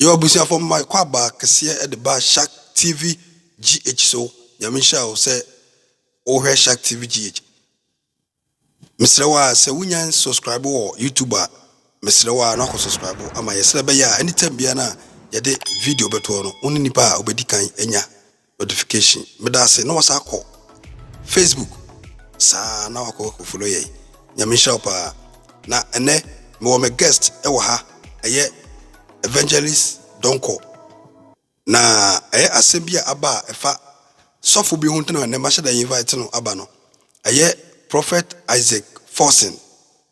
Yo abusuafo mma yɛ kwaba kɛseɛ ɛde ba shark tv GH so nyame nhyira wo sɛ wo hwɛ shark tv GH mesrɛ wo a sɛ wo nya subscribe wɔ youtube a mesrɛ wo a na wakɔ subscribe ama yɛ srɛ bɛyɛ a anytime bia na yɛde video bɛtoɔ no wo ne nipa a obɛdi kan anya notification meda ase na wasan akɔ facebook saa na wakɔ akɔ follow yɛn nyame nhyira wo paa na ɛnɛ mewɔ me guest ɛwɔ ha ɛyɛ evangelist donko na ɛyɛ asɛm bi a aba a ɛfa sɔfo bi ho nti na ɛnɛ mahyɛ da invite no aba no ɛyɛ prophet isaac forsen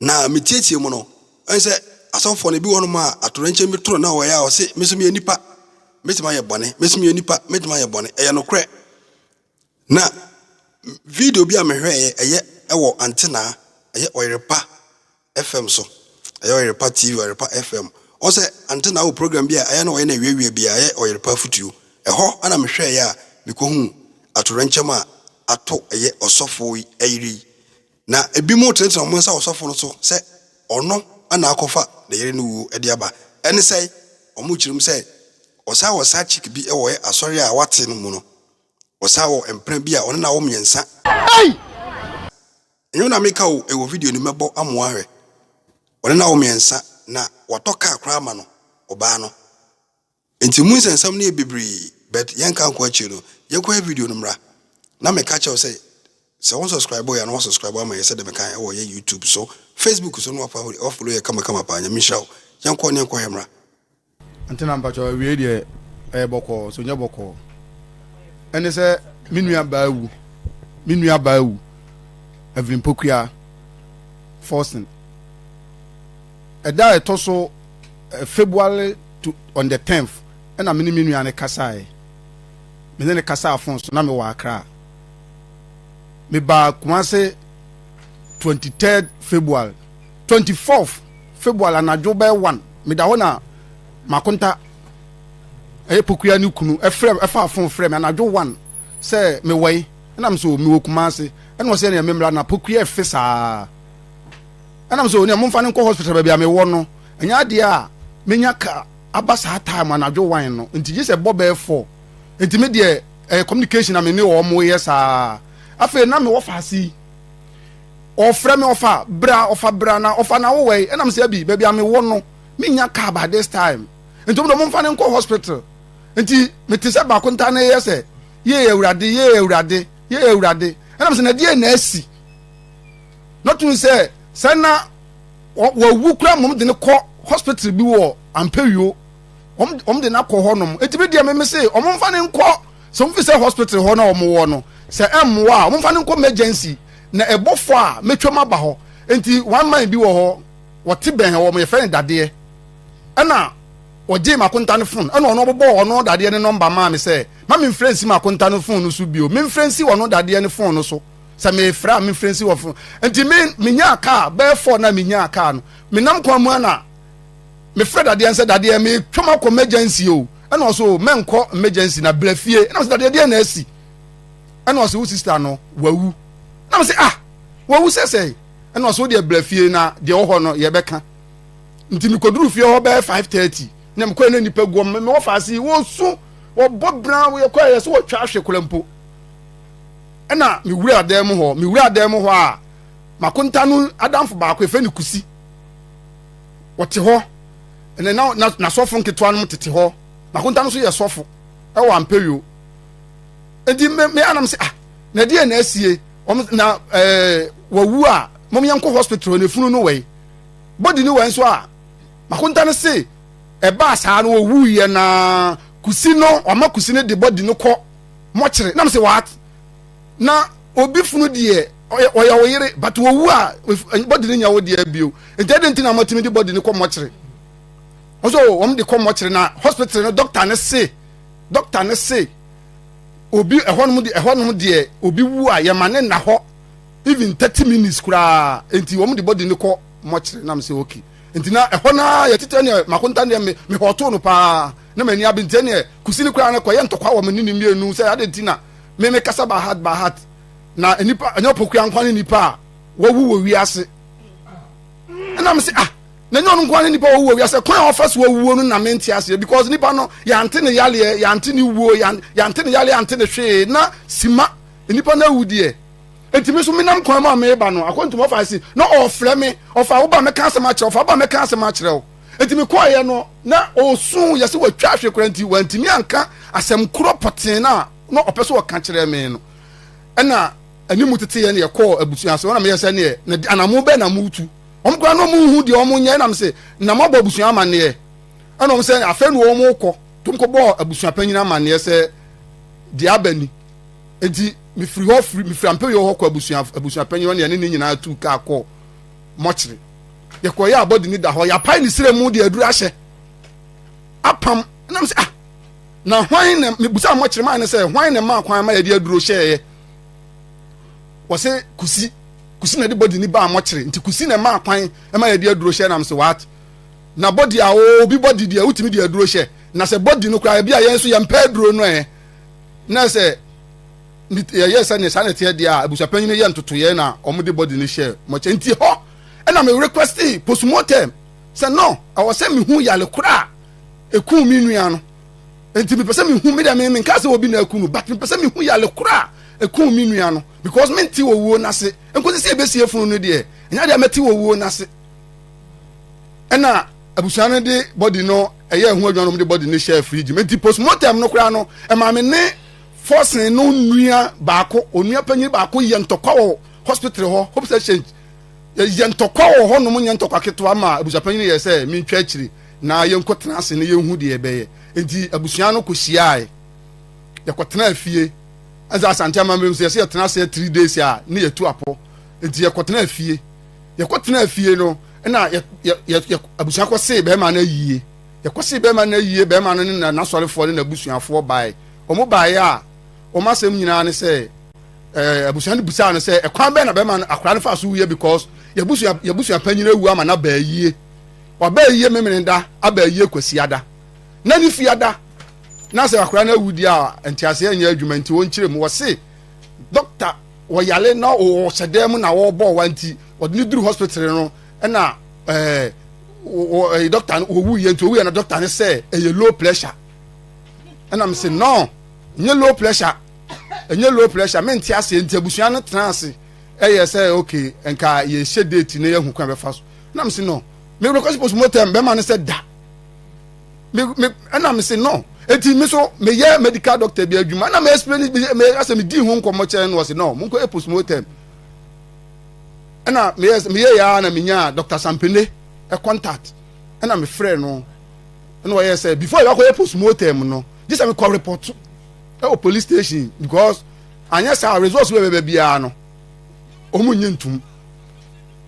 Na metsietsie mu no, ɔyɛ sɛ asɔfoɔ no bi wɔ nom a atoyerɛnkyɛm bi to no na ɔyɛ a ɔse, Me nso meyɛ nipa, mɛtumi ayɛ bɔne, me nso meyɛ nipa, mɛtumi ayɛ bɔne. Ɛyɛ nokorɛ. Na video bi a mehwɛeɛ, ɛyɛ ɛwɔ Antenaa, ɛyɛ Ɔyerepa FM so, ɛyɛ Ɔyerepa TV, Ɔyerepa FM. Ɔhu sɛ Antenaa wɔ program bi a ɛyɛ na ɔyɛ no awiawia bi a ɛyɛ Ɔyerepa Afutuo. Ɛhɔ na mehwɛeɛ a mekɔhuu atoyerɛnkyɛm a ato ɛyɛ ɔsɔfoɔ yi yere yi. Na ebinom tenatena wɔn nsa wɔ ɔsɔfo no so sɛ ɔno na akɔfa ne yere no wuo de aba. Ɛne sɛn? Wɔkyerɛ mu sɛ, wɔsan wɔ saa chick bi wɔ yɛn asɔre a wate no mu no. Wɔsan wɔ mpena bi a ɔne no awo mmiɛnsa. Ɛnyɛ me na meka o, ɛwɔ video no mu, mɛbɔ amoa ahwɛ. Ɔne no awo mmiɛnsa, na watɔ kaa koraa ama no, ɔbaa no. Nti mu nsɛnsɛm no yɛ bebree but yɛnka nkɔ akyire no yɛkɔhwɛ video no mmra na meka kyerɛ wo sɛ sɛ wo nsɔscribe yɛ a na woasɔscribe ama yɛ sɛdeɛ meka ɛwɔ yɛ YouTube so Facebook so na woafollow yɛ kama kama paa Nyame nhyira wo yɛnkɔ ne yɛnkɔhwɛ mmra. Antena mpakyɛw awiei deɛ ɛyɛ bɔkɔɔ so nyɛ bɔkɔɔ ɛne sɛ me nua baa awu me nua baa awu Evelyn Pokuaa Forson. Ɛda a ɛtɔ so February to on the tenth ɛna me ne me nua no kasaeɛ. Me ne no kasaa phone so na mewɔ Accra. Mebaa Kumase twenty third February. Twenty fourth February anadwo bɛyɛ one meda hɔ na Makonta ɛyɛ Pokuya ne kunu ɛfrɛ ɛfaa phone frɛ me anadwo one sɛ mewɔ yi ɛna me sɛ o mewɔ Kumase ɛna ɔsɛ ɛna me mmra na Pokuya ɛfe saa. Ɛna me sɛ onua momfa no nkɔ hospital baabi a mewɔ no ɛnyɛ adeɛ a menya ka aba saa time anadwo wan no nti gye sɛ ɛbɔ bɛyɛ four nti me deɛ ɛyɛ communication a me ne wɔn yɛ saa afei na mewɔ faase yi ɔfrɛ me ɔfa bra ɔfa bra na ɔfa na wowɔ yi ɛna me sɛ abi baabi a mewɔ no menya ka by this time nti wɔn de momfa no nkɔ hospital nti mete sɛ baako nta ne yɛ sɛ yee awurade yee awurade yee awurade ɛna me sɛ na deɛ na asi na tun sɛ sɛ na wawu koraa mmom de no kɔ hospital bi wɔ ampawio wɔn de no akɔ hɔ nom eti bi deɛ meme se wɔn mfa no nkɔ sɛ wɔn fi sɛ hospital hɔ na wɔn wɔ no sɛ ɛmmoa a wɔn mfa no nkɔ emergency na ɛbɔfo a metwam aba hɔ nti one man bi wɔ hɔ wɔte bɛn hɔ wɔn yɛfrɛ no dadeɛ ɛna wɔgye makonta no fon ɛna ɔno ɔbɛbɔ ɔno dadeɛ ne nɔmba maa me sɛ ma memfrɛ nsi makonta no fon no so bio memfrɛ nsi ɔno dadeɛ ne fon no so sɛ mefrɛ a mefrɛ nsi wɔ fo nti me menyaa kaa bɛyɛ fɔ na menyaa kaa no menam kwan mu ana mefrɛ dadeɛ nsɛ dadeɛ metwam akɔ emergency o ɛna ɔso o mɛnkɔ emergency na brɛ fie ɛna ɔsɛ dadeɛ deɛ na asi ɛna ɔsɛ wo sista no wawu na mesɛ ah wawu sɛ sɛ ɛna ɔsɛ wo deɛ brɛ fie na deɛ wɔ hɔ no yɛbɛka nti mekɔduru fie hɔ bɛyɛ 530 na mekɔɛ na nnipa guɔ mewɔ faase wɔsu wɔbɔ bra wɔyɛ kɔɛ yɛ sɛ wɔtwa ahwe kora mpo Ɛna mewuraa dan mu hɔ. Mewuraa dan mu hɔ a, m'akonta no adamfo baako, yɛfrɛ no Kusi. Ɔte hɔ. Ɛna na na n'asɔfo nketewa no tete hɔ. M'akonta no nso yɛ sɔfo ɛwɔ Ampeyo. Enti me me anam sɛ ah na ɛdeɛ na asie wɔn na ɛɛ eh, wawu a mom yɛn kɔ hospital na efunu no wɛn body no wɛn nso a m'akonta no se ɛbaa saa no ɔwuiɛ na kusi no ɔma kusi no de body no kɔ. mɔkyere nam sɛ what na obi funu deɛ ɔyɛ wo yere but wɔwu a bɔde no nya wo deɛ bio nti ɛde nti na mɔtumi de bɔde no kɔ mɔkyere ɔsɛ o wɔn de kɔ mɔkyere na hospital no dɔkta ne se dɔkta ne se obi ɛhɔnom deɛ ɛhɔnom deɛ obi wu a yɛma ne nna hɔ even thirty minutes koraa nti wɔn de bɔde no kɔ mɔkyere nam sɛ okay nti na ɛhɔ no a yɛtete ne makonta deɛ mehɔtoo no paa na m'ani abe nti ɛneɛ kusi no koraa no kɔyɛ ntɔkwa wɔ me ne ne mmienu sɛ ade nti na me me kasa bahat bahat na nipa ɛnyɛ ɔpokua nkwa ne nipa a wawu wɔ wiase ɛna me se ah na ɛnyɛ ɔno nkwa ne nipa wawu wɔ wiase kwan a ɔfa so awuo no na mente aseɛ because nipa no yɛante ne yaleɛ yɛante ne wuo yɛante ne yaleɛ yɛante ne hwee na sima nipa no awu deɛ nti me so menam kwan mu a meba no akɔntum ɔfa se na ɔfrɛ me ɔfa woba mɛka asɛm akyerɛ ɔfa woba mɛka asɛm akyerɛ wo Enti mekɔeɛ no, na ɔresu, yɛ sɛ watwa ahwe koraa nti wantumi anka asɛm korɔ pɔtee no a na ɔpɛ sɛ ɔka kyerɛ me no. Ɛna ɛne mu teteeɛ na yɛkɔɔ abusua ase, ɔna meyɛ sɛ neɛ na di anamo bɛn na motu. Wɔn koraa na wɔn nhu deɛ wɔn nyɛ, ɛna mese na moabɔ abusua amanneɛ. Ɛna wɔn sɛ afei na wɔn rekɔ, nti wɔn kɔbɔɔ abusuapanyin amanneɛ sɛ deɛ aba ni. Enti mefiri hɔ firi mefiri Ampeyo hɔ kɔ abusua abusuapanyin hɔ na yɛne ne nyinaa tuu kaa kɔɔ mɔkyere. yɛkɔyɛ abɔde ni da hɔ yɛapae ne srɛ mu de aduru ahyɛ apam nam sɛ ah na hwan na mebusa mmɔkyerɛ maa ne sɛ hwan na maa kwan ma yɛde aduro hyɛeɛ wɔsɛ kusi kusi na de bɔde ni baa mmɔkyerɛ nti kusi na maa kwan ma yɛde aduro hyɛ nam sɛ what na bɔde a obi bɔde deɛ wotumi de aduro hyɛ na sɛ bɔde no koraa ebi a yɛn nso yɛmpɛ aduro no ɛ na sɛ ne yɛyɛ sɛ ne saa na ɛteɛ deɛ a abusuapanyin no yɛ ntotoyɛ na wɔn de bɔdi no hyɛ mɔkyɛ nti hɔ ɛna me requesti postmortem sɛ no ɛwɔ sɛ mehu yale kora a eku mi nua no nti mepɛ sɛ mehu me deɛ me nka sɛ obi na eku no but mepɛ sɛ mehu yale kora a eku mi nua no because me nti wɔ wuo n'ase nkosi sɛ ebesie funu no deɛ ɛnya deɛ mɛti wɔ wuo n'ase ɛna abusua no de bɔdi no ɛyɛ ɛho adwuma no de bɔdi no hyɛ firiji nti postmortem no kora no ɛmaame ne. Forson no nua baako, onua panyin baako yɛ ntɔkwa wɔ hospital hɔ, Hope Exchange. Yɛyɛ ntɔkwa wɔ hɔnom nyɛ ntɔkwa ketewa ma abusuapanyin no yɛɛ sɛ mentwa akyiri na yɛnkɔtena ase na yɛnhu deɛ ɛbɛyɛ. Enti abusua no kɔhyiae. Yɛkɔtenaa fie. Ɛnsa Asante amammerɛ mu sɛ yɛsɛ yɛtena ase three days a ne yɛtu apɔ. Enti yɛkɔtenaa fie. Yɛkɔtenaa fie no, ɛna abusua kɔsee bɛrima no ayie. Yɛkɔsee bɛrima no awie, bɛrima no ne n'asɔrefoɔ ne n'abusuafoɔ bae. Wɔn baeɛ a, wɔn asɛm nyinaa ne sɛ, eh, abusua no bisaa no sɛ, ɛkwan bɛn na bɛrima no akora no faa so wuiɛ because yɛbusua, yɛbusua panyin awu ama no aba ayie. Waba ayie Memeneda, aba ayie Kwasiada. Na ne fiada. Na sɛ akora no awu deɛ a, nteaseɛ nyɛ adwuma nti wɔnkyerɛ mu. Wɔse, dɔkta wɔyale na wɔwɔ hyɛdan mu na wɔbɔ wa nti wɔde no duru hospital no ɛna ɛɛ wɔ ɛɛ dɔkta no owu yɛ nti owu yɛ na dɔkta no sɛ ɛyɛ low pressure ɛna mi sɛ no nye low pressure ɛnyɛ low pressure mi nti ase nti abusua no tena ase ɛyɛ sɛ okay nka yɛ hyɛ date na yɛ hu kwan bɛfa so ɛna mi sɛ no mi wuli kɔsi post mortem bɛma no sɛ da mi mi ɛna mi sɛ no eti mi so mi yɛ medical doctor bi adwuma ɛna mi explain mi asɛ mi di ho nkɔmɔ kyɛn no ɔsɛ no mo nkɔ yɛ post mortem. ɛna meyɛ meyɛ ya na menya dr sampene ɛ contact ɛna mefrɛ no ɛna ɔyɛ sɛ before yɛ akɔyɛ postmortem no gye sɛ mekɔ report ɛwɔ police station because anyɛ saa results wɔ bɛbɛ biara no ɔmo nye ntum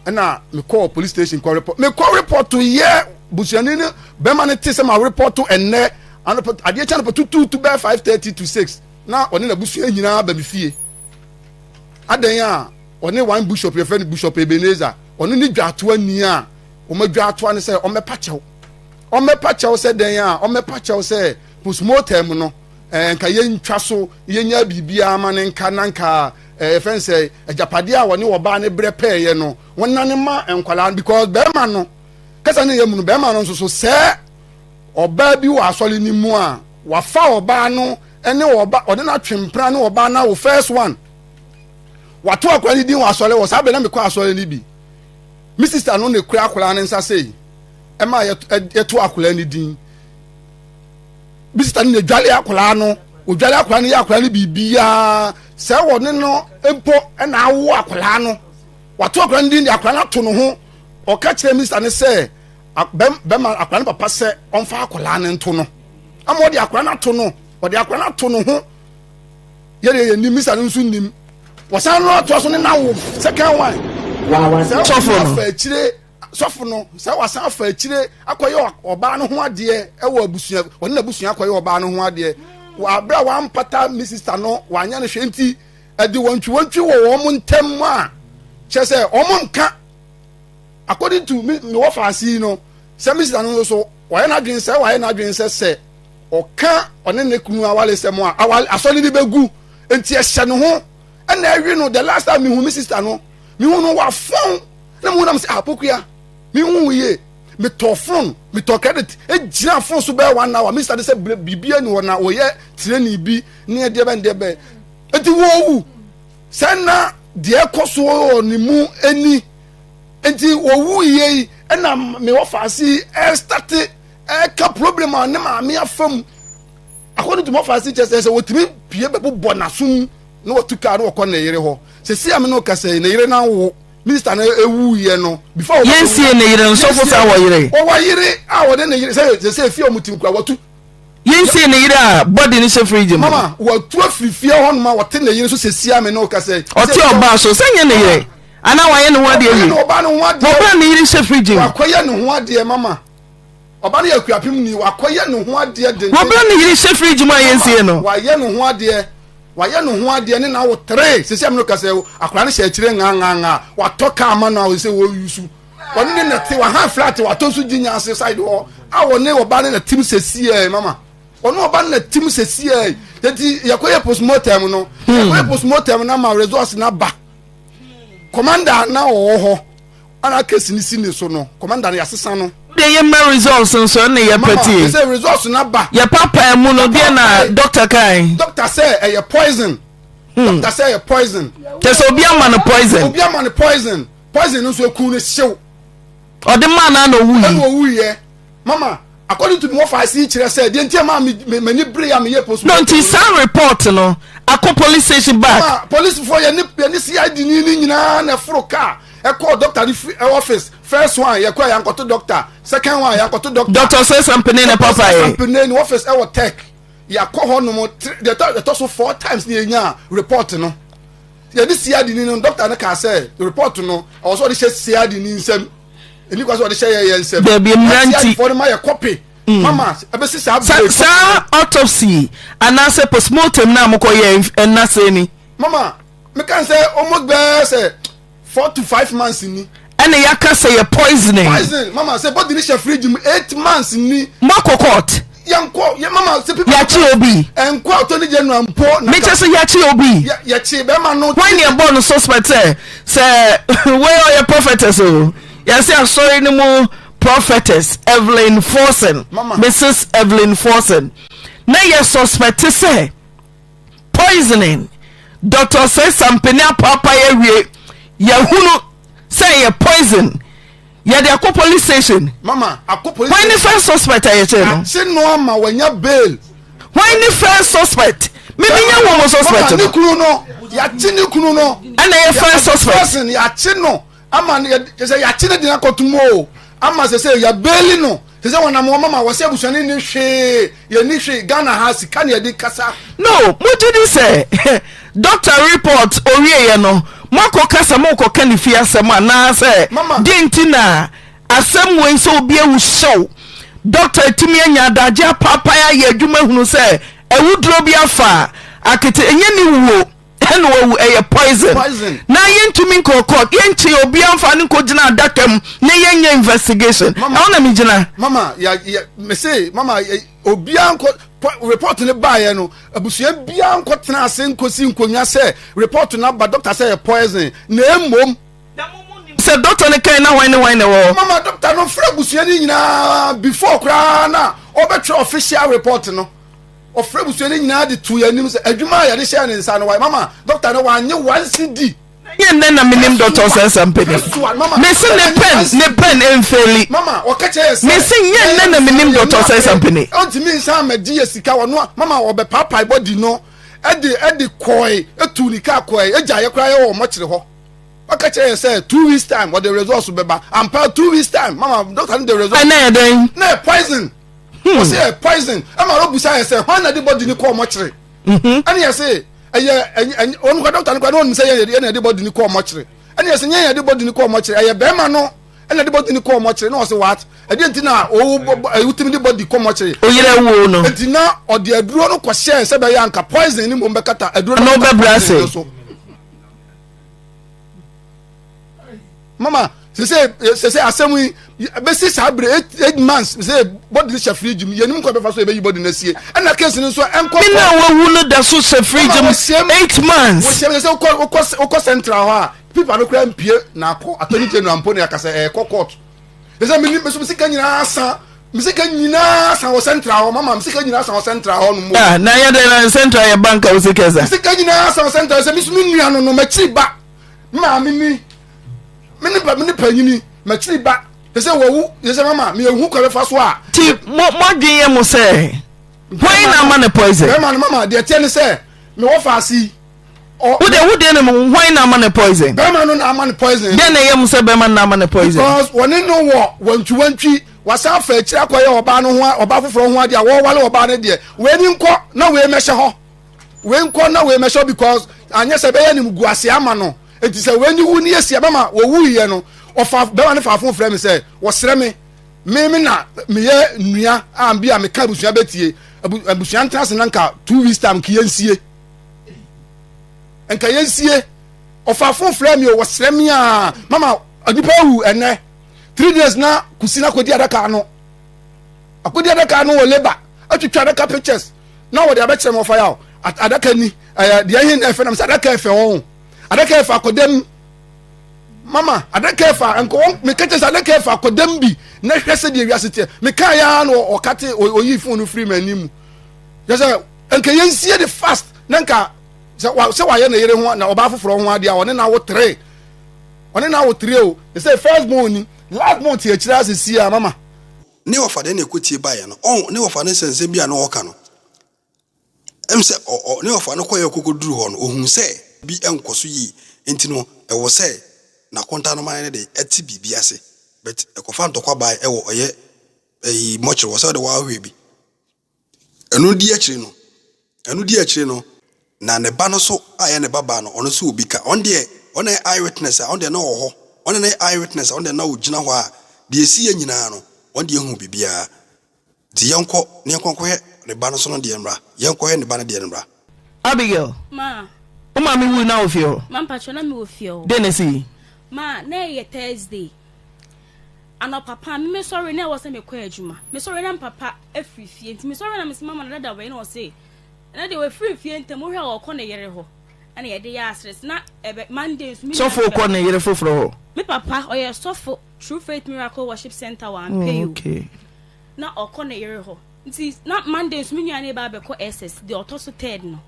ɛna mekɔ police station kɔ report mekɔ report yɛ busuani no bɛma no te sɛ ma report ɛnɛ adeɛ kyɛ no pɔ tutuutu bɛɛ five thirty to six na ɔne n'abusua nyinaa ba me fie. adɛn a ɔne one bishop yɛfrɛ no bishop ebenezer ɔno ne dwaatoa ni a wɔn adwaatoa no sɛ ɔmɛpa kyɛw ɔmɛpa kyɛw sɛ dɛn a ɔmɛpa kyɛw sɛ postmortem no ɛɛ eh, nka yɛntwa so yɛnya biribiara ma ne nka na nka ɛɛ eh, fɛn sɛ agyapadeɛ a wɔne ɔbaa ne brɛ pɛɛyɛ no wɔn nane ma nkwadaa no because bɛrima no kasa ne yɛ mu no bɛrima no nso so sɛ ɔbaa bi wɔ asɔre no mu a wafa ɔbaa no ne ɔba ɔde n'atwempena ne ɔba no awo first one wato akwadaa no din wɔ asɔre wɔ saa bɛ na mekɔ asɔre no bi me sista no na ekura akwadaa no nsa sei ɛma yɛto akwadaa no din me sista no na edwale akwadaa no odwale akwadaa no yɛ akwadaa no biribiara sɛ wɔ ne no mpo ɛna awo akwadaa no wato akwadaa no din de akwadaa no ato ne ho ɔka kyerɛ me sista no sɛ bɛma akwadaa no papa sɛ ɔmfa akwadaa no nto no ama ɔde akwadaa no ato no ɔde akwadaa no ato no ho yɛdeɛ yɛ nim misa no nso nim wɔsan no atoa so ne nawo second one sɛ wɔsan afa akyire sɔfo no sɛ wɔsan afa akyire akɔyɛ ɔbaa no ho adeɛ ɛwɔ abusua wɔne n'abusua akɔyɛ ɔbaa no ho adeɛ wɔ abira wampata ne sista no wanyɛ no hwɛ nti ɛde wɔntwi wɔntwi wɔ wɔn ntɛm a kyerɛ sɛ wɔn nka. according to me me wɔ faase yi no sɛ me sista no nso so wayɛ n'adwene sɛ wayɛ n'adwene sɛ sɛ ɔka ɔne ne kunu awale sɛm a awale asɔre no bɛgu nti ɛhyɛ ne ho ɛna ɛwe no the last time mehu me sista no mehu no wafɔn na mehu nam sɛ apokua mehu yie metɔ phone metɔ credit egyina phone so bɛyɛ one hour mr de sɛ biribi ani hɔ na wɔyɛ tirani bi ne ɛdeɛ bɛn deɛ bɛn eti wɔwu Sɛ na deɛ ɛkɔ so wɔ ne mu ni nti wɔwu yie yi ɛna me wɔfaase yi ɛrestate ɛreka problem a ne maame afa mu akɔno tuma wɔfaase kyɛ sɛ sɛ wɔtumi pie bɛbobɔ n'aso mu na wɔtu kaa na wɔkɔ ne yere hɔ sɛ si a me ne ɔkasa yi ne yere no awo minista no ewu yɛ no before wɔn yɛn sie ne yere nsɔfo sa wɔ yere wɔwɔ yere a wɔde ne yere sɛ sɛ efi wɔn ti nkura wɔtu yɛnsie ne yere a bɔde ne hyɛ fridge mu mama watu afiri fie hɔ noma wɔte ne yere so sɛsia me ne woka sɛ ɔte ɔbaa so sɛ nyɛ ne yere anaa wayɛ ne ho adeɛ wie ɔbaa ne ho adeɛ ɔbaa ne yere hyɛ fridge mu wakɔyɛ ne ho adeɛ mama ɔbaa ne yɛ akuapem ni wakɔyɛ ne ho adeɛ denden wɔbaa ne yere hyɛ fridge mu a yɛnsie no wayɛ ne ho adeɛ wayɛ ne ho adeɛ ne na wo tere sɛsia me ne woka sɛ akora ne hyɛ akyire ngangangaa watɔ kaa ma no a ɔsɛ wɔyusu wɔne ne nɛte waha flat watɔ so gyinya ase side hɔ a wɔne ɔba ne nɛtem sɛsiɛ mama ɔne ɔba ne nɛtem sɛsiɛ yɛti yɛkɔyɛ postmortem no hmm. yɛkɔyɛ postmortem no ama resource no aba commander na ɔwɔ hɔ ana kesi ne si ne so no commander no yɛasesa no de yɛ mma results nso ɛna yɛ pɛtie sɛ results no aba yɛ papa mu no deɛ na doctor kan doctor sɛ ɛyɛ poison hmm. doctor sɛ ɛyɛ poison kyɛ sɛ obi ama no poison obi ama no poison poison no nso ekun no hyew. ɔde maa no ana owui. ɛna owui yɛ mama according to me wɔfa ase yi kyerɛ sɛ deɛ nti a maa mi m'ani bere a meyɛ post. no nti saa report no akɔ police station back. ma polisifoɔ yɛ ne yɛ ne cid ni ne nyinaa na ɛforo kaa ɛkɔɔ doctor ne fi office first one yɛ kɔ yankɔto doctor second one yankɔto doctor. doctor sɛ sampene ne papa yɛ. sampene ne office ɛwɔ tech yakɔ hɔ nom deɛ ɛtɔ so four times ne yɛ nya report no. yɛde siadi ni no dɔkta no kaa sɛ report no ɔwɔ sɛ ɔde hyɛ siadi ni nsɛm ɛni kwa sɛ ɔde hyɛ yɛ yɛ nsɛm dabi mmira nti siadifoɔ no ma yɛ kɔpe mm. mama ɛbɛsi saa bere saa autopsy anaasɛ postmortem na mokɔ yɛ ɛnasɛ ni mama meka sɛ ɔmo gbɛɛ sɛ four to five months ni ɛna yɛaka sɛ yɛ poisoning. poison mama sɛ body ne hyɛ fridge mu eight months ni. moakɔ court. yɛnkɔ yɛ mama sɛ pipa. yɛakye obi. ɛnkɔ atɔ ne gya nua mpo. mekyɛ sɛ yɛakye obi. yɛkye bɛrima no. wɔn ni ɛbɔ no suspect sɛ sɛ wɔyɛ ɔyɛ prophetess o yɛsɛ asɔre no mu prophetess evelyn forson mrs evelyn forson na yɛ suspect sɛ. poisoning Doctor Seisampene apoapae awie yɛahunu sɛ ɛyɛ poison yɛde akɔ police station mama akɔ police station wɔn ne first suspect a yɛkyɛ no akye no ama wɔnya bail wɔn ne first suspect mímí nyɛ wɔn suspect no mama ne kunu no yɛakye ne kunu no ɛna yɛ first suspect yɛakye no. ama no kyɛ sɛ yɛakye no den akɔto mu o ama sɛ sɛ yɛabeeli no sɛ sɛ wɔnam wɔn mama wɔsɛ abusuani ne hwee yɛni hwee ghana ha sika ne yɛde kasa no mogye di sɛ dɔkta report owieɛ no moakɔ kasa morekɔka ne fie asɛm anaasɛ deɛ nti na asɛm wei sɛ obi awu hyew dɔkta atumi anya adagye apaapae ayɛ adwuma hunu sɛ awuduro bi afa akete ɛnyɛ ne wuo ɛna wawu ɛyɛ poison na yɛntumi nkɔ court yɛnkye obiara mfa no nkɔgyina adaka mu na yɛnyɛ investigation ɛhɔ na megyina mama ya ya mese mama obiara nkɔ report no baeɛ no abusua biara nkɔ tena ase nkɔsi nkonnwa sɛ report no aba doctor sɛ yɛ poison na mmom sɛ dɔkta no kan na hwan ne hwan na ɛwɔ hɔ. mama dɔkta no fura abusua no nyinaa before koraa na ɔbɛtwerɛ official report no. Ɔfrɛɛ abusua no nyinaa de too yɛn anim sɛ adwuma a yɛde hyɛɛ ne nsa no wayɛ. Mama, dɔkta no wannye one cedi. Ɛnyɛ nnɛ na menim Dɔkta Ɔsɛnsa Mpene. Mese ne pɛn, ne pɛn mfeeli. Mese nyɛ nnɛ na menim Dɔkta Ɔsɛnsa Mpene. Ɔntumi nsan ammɛgye yɛ sika, ɔno a, mama ɔbɛpaapae bɔdi no de de kɔɔe, tuu ne kaa kɔɔe, egyaa yɛ koraa yɛ wɔ mɔkyere hɔ. Ɔka kyerɛ yɛ sɛ two weeks time ɔde results bɛba. Ampa, two weeks time, mama, dɔkta no de results. Ɛnna yɛ dɛn? Na yɛ poison. Hmm. wɔsi ɛ poison ɛma ɔrɔ busa yɛ sɛ hɔn na de bɔdi ni kɔɔ mɔkyere mhm. ɛne yɛ se ɛyɛ ɛnyɛ wɔn kɔ dɔkta no kɔ ɛna wɔn sɛ yɛ na de bɔdi ni kɔɔ mɔkyere ɛne yɛ sɛ nyɛ yɛ de bɔdi ni kɔɔ mɔkyere ɛyɛ bɛrima no ɛna de bɔdi ni kɔɔ mɔkyere na ɔsi wat ɛdi nti na owu ɛwu timi de bɔdi kɔɔ mɔkyere oyere wo no nti na ɔde aduro no kɔ hyɛ sɛ bɛyɛ anka poison ni mo bɛkata aduro no bɛkata so. mama sese sese asɛm yi bɛsi saa bere eight eight months sɛ bɔdi hyɛ firiji mu yɛnum kɔ bɛfa so yɛbɛyi bɔdi na sie ɛna case no nso ɛnkɔ kɔ ɛna wawu no da so hyɛ firiji mu eight months wɔhyɛ mi sɛ wokɔ wokɔ wokɔ central hɔ a pipa no kura mpie na akɔ attorney general mpo na yakasa ɛkɔ court ɛsɛ mi ni mi so mi sika nyinaa san mi sika nyinaa san wɔ central hɔ mama mi sika nyinaa san wɔ central hɔ no mu. Ah, na yɛ dɛ na central yɛ bank a o sika sa. mi sika nyinaa san wɔ central sɛ mi so mi nua no no mɛ kyi ba. maame ni me ne me ne panyini makyiri ba te sɛ wawu te sɛ mama meɛhu kɔ bɛfa so a nti moadwen yɛ mo sɛ hwan na ama no poison bɛma no mama deɛ teɛ ne sɛ mewɔ faase yi wode wode ne mu hwan na ama no poison bɛma no na ama no poison deɛ na ɛyɛ mo sɛ bɛma no na ama no poison because wɔne no wɔ wantwiwantwi wasan afa akyiri akɔyɛ ɔbaa no ho ɔbaa foforɔ ho adeɛ a wɔwale ɔbaa no deɛ wei ni nkɔ na wei mɛhyɛ hɔ wei nkɔ na wei mɛhyɛ because anyɛ sɛ ɛbɛyɛ ne gu ase ama no nti sɛ wei ne wu ne yɛsi ɛbɛma wɔwu yɛ no ɔfa bɛma ne faafo frɛ me sɛ wɔsrɛ me me me na meyɛ nnua a bi a meka abusua bɛtie abusua ntena ase na nka two weeks time nka yɛnsie nka yɛnsie ɔfaafo frɛ me o wɔsrɛ me a mama nipa awu ɛnɛ three days na kusi na kɔdi adaka no akodi adaka no wɔ labour atwitwa adaka pictures na wɔde abɛkyerɛ no wɔfa yaw adaka ni ɛyɛ deɛ ɛhe na ɛfɛ nam sɛ adaka ɛfɛ wɔn adaka ɛfɛ akɔdam mama adaka ɛfɛ nkɔwɔ meka kyɛ sɛ adaka ɛfɛ akɔdam bi na hwɛ sɛ deɛ wiase teɛ meka yɛ ara na ɔkate ɔyi fon no firi m'anim mu yɛ sɛ nka yɛnsie de fast na nka sɛ wayɛ ne yere ho na ɔbaa foforɔ ho adeɛ a ɔne na awo tere ɔne na awo tere o ɛsɛ first born ni Last month yɛ kyerɛ ase si a mama. Ne wɔfa dɛn na ɛkɔ tie baeɛ no ɔn ne wɔfa no sɛ nsɛm bi a na ɔɔka no ɛm sɛ ɔ ɔ ne wɔfa no kɔeɛ ɔkɔkɔ duru hɔ no ɔhunu sɛ bi ɛnkɔ so yie nti no ɛwɔ sɛ nakonta no man no de ɛte biribi ase but ɛkɔfa ntɔkwa bae ɛwɔ ɔyɛ ɛyi mortuary wɔ sɛ ɔde wɔ ahwɛ bi. Ɛno di akyire no, ɛno di akyire no, na ne ba no nso a ɛyɛ ne babaa no, ɔno nso wɔ bi ka. Ɔno deɛ, ɔno na ɛyɛ eye witness a, ɔno deɛ na ɔwɔ hɔ. Ɔno na ɛyɛ eye witness a, ɔno deɛ na ɔgyina hɔ a, deɛ ɛsiiɛ nyinaa no, ɔno deɛ ɔhuu biribiara. Nti yɛnkɔ na yɛnkɔ nkɔhwɛ ne ba no nso no deɛ mmra. Yɛnkɔhwɛ ne ba no deɛ no mmra. Abigail, Ma. Wo maame wui na wo fie hɔ? Ma mpakyɛ na me wɔ fie hɔ. Dɛn na esi yi? Ma, na ɛyɛ Thursday. Anɔpa pa, me mesɔre na ɛwɔ sɛ mekɔ adwuma. Mesɔre na mpapa afiri fie. Nti mesɔre na mesi mama na dada wei na ɔse. Na deɛ wafiri fie ntɛm wohwɛ a ɔkɔ ne yere hɔ. Ɛna yɛde yɛ aseres na ɛbɛ Monday nso me nua Sɔfo kɔ ne yere foforɔ hɔ. Me papa ɔyɛ sɔfo True Faith Miracle Worship Center wɔ Ampeyo. Oh, okay. na ɔkɔ ne yere hɔ nti na monday nso me nua ne ba abɛkɔ ss deɛ ɔtɔ so third no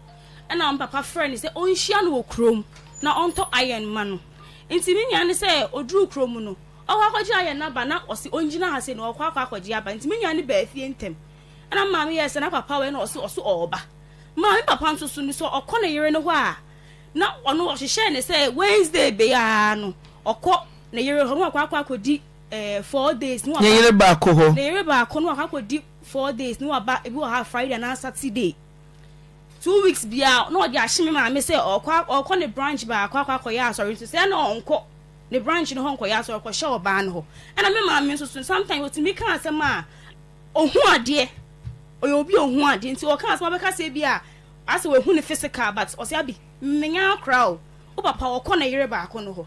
ɛna wɔn papa frɛ no sɛ ɔnhyia no wɔ kurom na ɔntɔ iron ma no nti me nua no sɛ ɔduru kurom no ɔkɔ akɔgye iron no aba na ɔse ɔngyina ha sɛ na ɔkɔ akɔ akɔgye aba nti me nua no baa fie ntɛm ɛna maame yɛ sɛ na papa wɔ ɛna ɔse ɔso ɔɔba maame papa nso so no sɛ ɔkɔ ne yere no hɔ a na ɔno ɔhyehyɛ ne sɛ wednesday bɛyɛ no ɔkɔ ne yere hɔ na ɔkɔ akɔ akɔdi ɛɛ four days ne waba. Ne yere baako hɔ. Ne yere baako no wakɔ akɔdi four days ne waba ebi wɔ ha Friday anaa Saturday two weeks biara na ɔde ahye me maame sɛ ɔkɔ ɔkɔ ne branch baako akɔ akɔyɛ asɔre nso sɛ na ɔnkɔ ne branch no hɔ nkɔyɛ asɔre kɔhyɛ ɔbaa no hɔ ɛna me maame nso so sometimes otumi ka asɛm a ohun adeɛ ɔyɛ obi ohun adeɛ nti ɔka asɛm abɛka sɛ bi a asɛ wahu ne physical but ɔsɛ abi mmenya akora o wo papa ɔkɔ ne yere baako no hɔ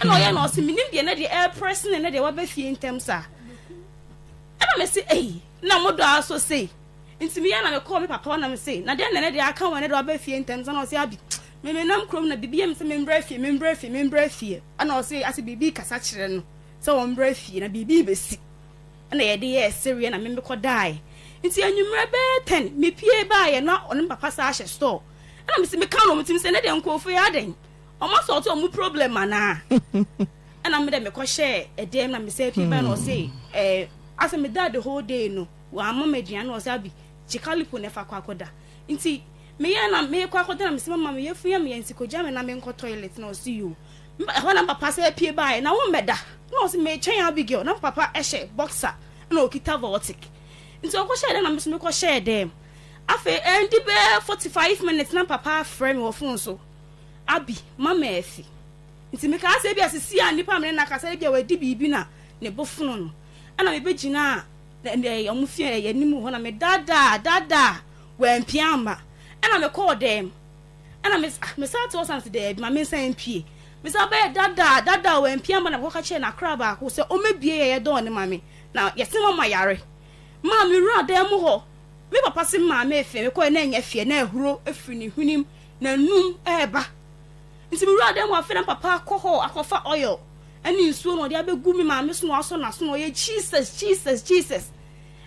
Ɛna ɔyɛ na ɔse menim deɛ na deɛ ɛɛprɛ sene na deɛ waba fie ntɛm saa. Ɛna mese ei na mo dɔ aso sei. Nti meyɛ na mekɔɔ me papa hɔ na mese na deɛ na ɛnɛ deɛ aka wɔn ɛnɛ deɛ waba fie ntɛm saa na ɔse abi me menam kurom na biribi yɛ me sɛ membrɛ fie membrɛ fie membrɛ fie. Ɛna ɔse ase biribi kasa kyerɛ no sɛ wɔmbrɛ fie na biribi bɛsi. Ɛna yɛde yɛɛ sereɛ na me mekɔ daaɛ. Nti anwummerɛ bɛɛ ten mepie baaɛ na ɔne me papa saa hyɛ store. Ɛna mese meka no wɔn tirim sɛ ɛnɛ deɛ nkorɔfoɔ yi adɛn. Ɔmo asɔɔte ɔmo problem anaa? Ɛna me dɛ mekɔ hyɛɛ ɛdɛm na mesɛ pie bɛn na ɔse ɛɛ eh, asɛ me daa the whole day no w'ama me aduane na ɔse abi kyikalipo na ɛfa kɔ akɔda nti meyɛ na mekɔ akɔda na mesɛ mama me yɛfu yɛ me yɛ nti kogya me na menkɔ toilet na ɔse yoo ɛhɔ na papa sɛ pie baeɛ na wo mmɛda na ɔse mekyɛn Abigail na papa ɛhyɛ boxer na ɔkita voltic nti ɔkɔ hyɛɛ dɛm na meso mekɔ hyɛɛ dɛm afei ɛndi bɛɛ 45 minutes na papa afrɛ me wɔ fon so Abi, Mama afi. Nti mekaa sɛ ebia sesie a nipa a me ne no akasa no ebia wadi biribi na ne bo fono no. Ɛna mebegyinaa wɔn fie anim hɔ na medaadaa, daadaa, wampue amma. Ɛna mekɔɔ dɛm. Ɛna me, ah, mesan te hɔ san sɛ daabi, ma mensan mpue. Mesan bɛyɛ daadaa, daadaa, wampue amma na mekɔka kyerɛɛ n'akora baako sɛ ɔmmɛbue yɛ yɛ dɔɔ no ma me, na yɛse mama yare. Maa mewuraa dan mu hɔ. Me papa se maa me afi, mekɔɛ na ɛnyɛ fie, na ahuro firi ne hwenem N'anum reba. Nti me wura dɛm afei na papa akɔ hɔ akɔfa oil ɛne nsuo na ɔde abɛgu me maame so na wasɔ n'aso na ɔyɛ Jesus Jesus Jesus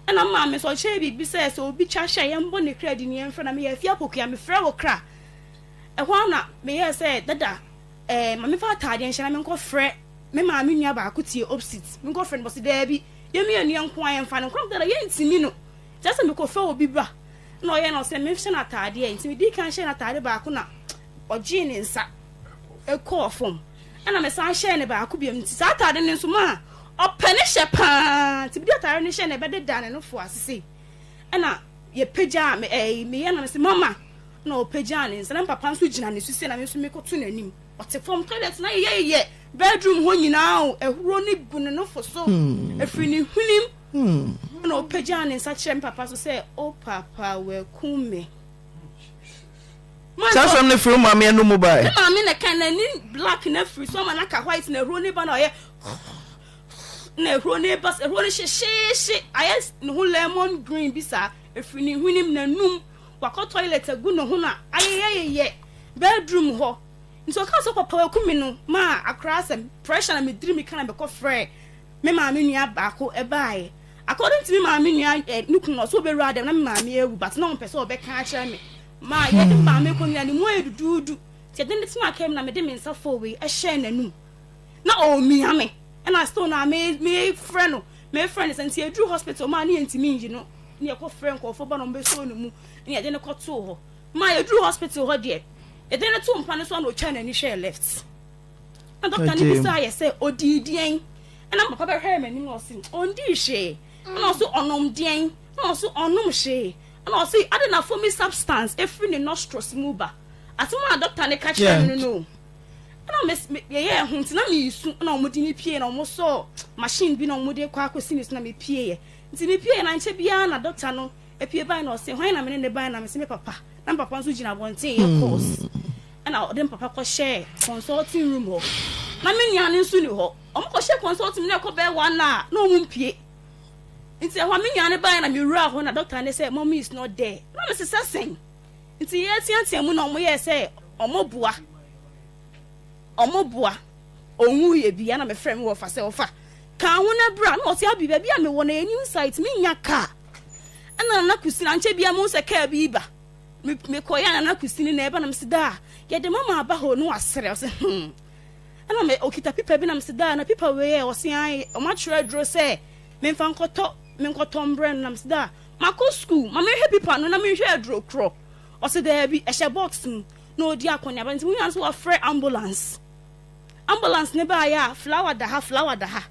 ɛna me maame nso ɔkyerɛ yɛ biribi sɛ sɛ obi kya hyɛ yɛmbɔ ne kra di ne yɛmfrɛ na meyɛ afia pokua mefrɛ wo kra ɛhɔ ara na meyɛɛ sɛ dada ɛɛ ma mefa ataadeɛ nhyɛ na menkɔfrɛ me maame nua baako tie opsit menkɔfrɛ no bɔse daabi yɛmmienu yɛ nko a yɛmfa no nkora dada yɛntimi no Kyerɛ sɛ mekɔfrɛ obi ba na ɔyɛ no sɛ menhyɛ no ataadeɛ a, nti medii kan hyɛɛ no ataade baako na ɔgyee ne nsa kɔɔ fam, ɛna mesan hyɛɛ no baako biom, nti saa ataade no nso maa ɔpɛ ne hyɛ pa ara, nti mede ataade no hyɛɛ no ɛbɛdeda ne nofo ase sei, ɛna yɛpagyaa me ɛɛ meyɛ no sɛ mama, ɛna ɔpagyaa ne nsa na me papa nso gyina ne so sei na me nso mekɔto n'anim, ɔte fam, toilet no ayeyɛyeyɛ, bedroom hɔ nyinaa o, ahuro no gu ne nofo so, ɛfiri ne hwenem. Hɔ na ɔpagyaa ne nsa kyerɛɛ me papa so sɛ, O papa, wɔakum me. Saa asɛm no firi wo maame anom mu bae. Me maame na ɛkae, n'ani black na afiri so ama no aka white na ahuro no ba na ɔyɛ na ahuro no ba ahuro no hyehyeehye ayɛ ne ho lemon green bi saa efiri ne hwenem na num wakɔ toilet agu ne ho na ayeyɛyeyɛ bedroom hɔ nti ɔka sɛ papa waku me no maa akora asɛm pressure na mediri me ka na mekɔ frɛ Me maame nua baako baeɛ. According to me maame nua eh, ne kunu ɔsɛ ɔbɛwura dɛm na me maame awu but na ɔmpɛ sɛ ɔbɛka akyerɛ me. Ma yɛde maame kɔ nyina ne mu ayɛ duduudu. Nti ɛde ne tena kaa mu na mede me nsa fɔɔ wei ɛhyɛɛ n'anum. Na ɔremia me. Ɛna still na me mefrɛ no mefrɛ no sɛ nti ɛduru hospital maa ne yɛntumi nyi no ne yɛkɔfrɛ nkɔɔfoɔ ba na ɔmbɛsɔɔ ne mu ne yɛde no kɔtoo hɔ. Ma yɛduru hospital hɔ deɛ yɛde no to mpa no so a na ɔtwaa n'ani hwɛɛ left. Na dɔkta no bisaa yɛ sɛ, Odii deɛn? Ɛna papa bɛhwɛɛ m'anim na ɔse, Ɔndii hwee. Ɛna ɔse, Ɔnom deɛn? Ɛna ɔse, Ɔnom hwee. Ɛna ɔse, Ade na foamy substance firi ne nostrils mu ba. Asɛm a dɔkta no ka kyerɛɛ me no no o. Ɛna me, me, yɛyɛɛ ho nti na meresu, ɛna wɔde me pieeɛ na wɔsɔɔ machine bi na wɔde kɔ akɔsi me so na mepieeɛ. Nti mepieeɛ na nkyɛ biara na dɔkta no Apue bae na ɔse, hwan na mene no bae? Na mese, me papa. Na me papa nso gyina abɔnten yɛ calls. Ɛna ɔde me papa kɔhyɛɛ consulting room hɔ. Na me nua no nso ni hɔ. Wɔn kɔhyɛ consulting na ɛkɔ bɛyɛ one hour na wɔn mpue. Nti ɛhɔ a me nua no bae na mewuraa hɔ na doctor no sɛ mommy is not there. Na mese sɛ sɛn? Nti yɛteatea mu na wɔn yɛɛ sɛ wɔn boa. Wɔn boa. Ɔnwu yɛ bi. Ɛna mefrɛ me wɔfa sɛ wɔfa kaa ho na bra na ɔte abi baabi a mewɔ na yɛnim site me nya kaa. ɛna nana kusini ankyɛ bia mo sɛ kaa bi ba me mekɔ ya nana kusini na ɛba na mesi daa yɛde mama aba hɔ no asrɛ ɔsɛ hmm ɛna me okita pipa bi na mesi daa na pipa wei yɛ ɔsɛ an ɔmo atwerɛ aduro sɛ memfa nkɔtɔ menkɔtɔ mbrɛ no na mesi daa makɔ sukuu ma mehwɛ pipa no na mehwɛ aduro korɔ ɔsɛ daabi ɛhyɛ box mu na ɔdi akɔneaba nti wonya no sɛ wɔafrɛ ambulance ambulance ne baayɛ a flower da ha flower da ha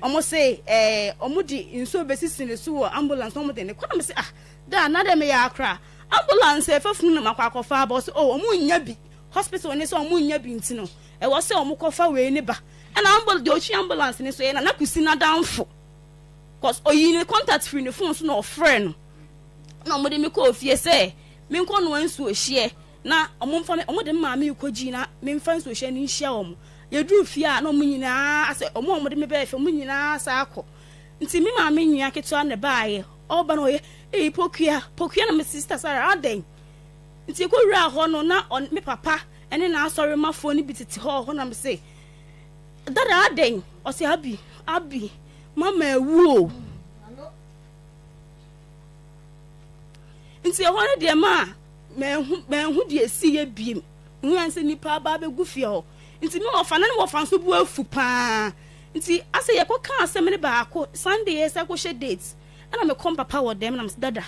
Ɔmo se ɛɛ ɔmo de nsuo besisi ne so wɔ ambulance na ɔmo de ne kɔ na me se ah daa na dɛ meyɛ akora ambulance a ɛfa funu na makɔ akɔ fa aba ɔse oh ɔmo nnya bi hospital ne sɛ ɔmo nnya bi nti no ɛwɔ sɛ ɔmo kɔ fa wei ne ba ɛna ambul deɛ ɔtwi ambulance ne so yɛ nana kusi n'adanfo cause ɔyi ne contact firi ne phone so na ɔfrɛ no na ɔmo de me kɔɔ fie sɛ menkɔ noa nsuo hyeɛ Na wɔmfa me, wɔde me maa me rekɔgyi na memfa nsuohyɛ no nhyia wɔn. Yɛduruu fie a, na wɔn nyinaa asɛ, wɔn a wɔde me bɛɛ fie, wɔn nyinaa asan akɔ. Nti me maame nua ketewa na ɛbaeɛ, ɔreba no ɔyɛ, Ei, Pokuya, Pokuya! Na me Sista Sara, adɛn? Nti yɛkɔwuraa hɔ no, na ɔne me papa ne n'asɔremmafoɔ no bi tete hɔ wɔ hɔ, na mese, Dada, adɛn? Ɔse, Abi, Abi, Mama awu o! Nti ɛhɔ no deɛ maa. Manhu manhu deɛ ɛsiiɛ biem. Mehunuiɛ ara ne sɛ nnipa aba abɛgu fie hɔ. Nti me wɔfa, na ne wɔfa nso bo afu pa ara. Nti asɛ yɛkɔkaa asɛm no baako, Sunday yɛresa akɔhyɛ date, ɛna mekɔ me papa wɔ dɛm, na mese, Dada,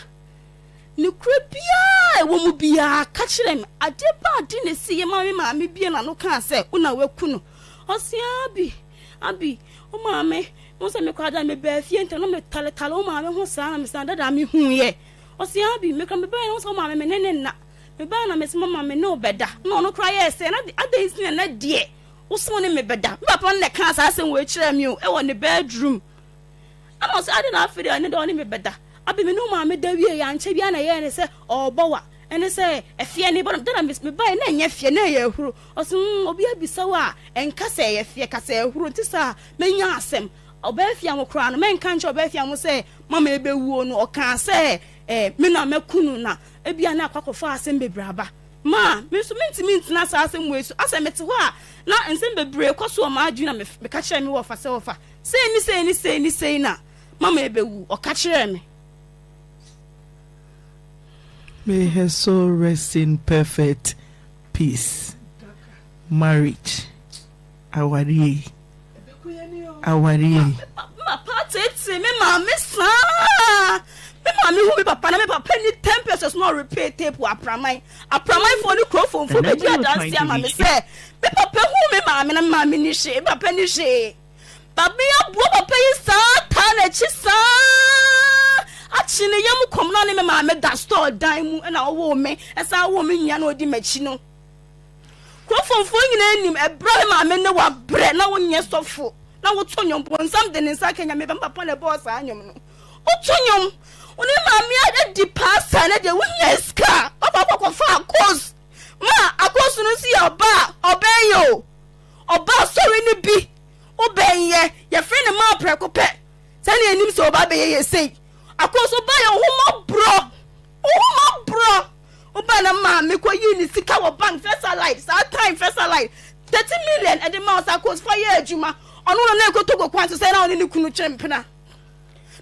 nokorɛ biara a ɛwɔ mu biara, ka kyerɛ me, adeɛ pa ara de na ɛsiiɛ ma me maame buee n'ano kaa sɛ, wo na woaku no. Ɔse, Abi, Abi, wo maame, wohu sɛ me koraa da a mebaa fie ntɛm na metaletale wo maame ho saa, na mese, Dada, mehunuiɛ. Ɔseaa bi, meka mebae na wo sɛ wo maame me ne ne nna. Mebae na mese mama me ne wo bɛda. Na ɔno koraa yɛɛ sɛ, na adɛn nti na ɛnnɛ deɛ wo se wo ne me bɛda? Me papa no na ɛkaa saa asɛm wei kyerɛɛ me o, wɔ ne bedroom. Ɛna ɔse adɛn na afei deɛ ɛnnɛ deɛ wo ne me bɛda? Abi me ne wo maame da wieeɛ, ankyɛ biara na ɛyɛɛ ne sɛ ɔrebɔ wa. Ɛne sɛ ɛfeɛ ne bɔ no, da na mese mebae na ɛnyɛ feɛ, na ɛyɛ ahuro. Ɔse hmm, obi abisa wo a, ɛnka sɛ ɛyɛ feɛ, ka sɛ ahuro. Nti saa, mɛnya asɛm. Ɔbɛafia ho koraa no, mɛnka nkyerɛ ɔbɛafia ho sɛ mama ɛbɛwuo no, ɔkaa sɛ me na mɛku no na ebia na akɔ akɔfa asɛm bebree aba. Ma me nso mentumi ntena saa asɛm wei so, asɛ mete hɔ a na nsɛm bebree kɔ so wɔ m'adwene na meka kyerɛɛ me wɔfa sɛ wɔfa sei ne sei ne sei ne sei na mama ɛbɛwu, ɔka kyerɛɛ me. May her soul rest in perfect peace. Marriage. Awareɛ yi, awareɛ yi. Me papa teetee me maame saa. Me maame hu me papa na me papa ni ten pesos na ɔrepay tape wɔ apraman. Apraman fo ne kuro fo mfo bɛdi adansi ama me sɛ me papa hu me maame na me maame ni hwee, me papa ni hwee. Maame aboa papa yi saa taa n'akyi saa akye ne yam kɔm na ne me maame da store dan mu na ɔwoo me ɛsan woo me nua na ɔdi m'akyi no. Kurofomfoɔ nyinaa nim ɛberɛ a me maame ne wo abrɛ na wo nyɛ sɔfo na wo to nnwom bonsam de ne nsa ka nyame bɛn papa na ɛbɔɔ saa nnwom no wo to nnwom wo ne maame ayɛ di paa saa na deɛ wo nya sika ɔba kɔkɔ fa akos ma akos no nso yɛ ɔba ɔbɛn yɛ o ɔba asɔre no bi wo bɛn yɛ yɛfrɛ ne maa prɛko pɛ sɛdeɛ anim sɛ ɔba bɛyɛ yɛ sei akos ɔba yɛ wo ho mɔborɔ Wohoma borɔ wo ba na maa me kɔ yii ne sika wɔ bank fɛsa light saa time fɛsa light thirty million ɛde ma ɔsa kos fa yɛ adwuma ɔno na na ɛkɔ togo kwan so sɛ na ɔne ne kunu kyɛ mpena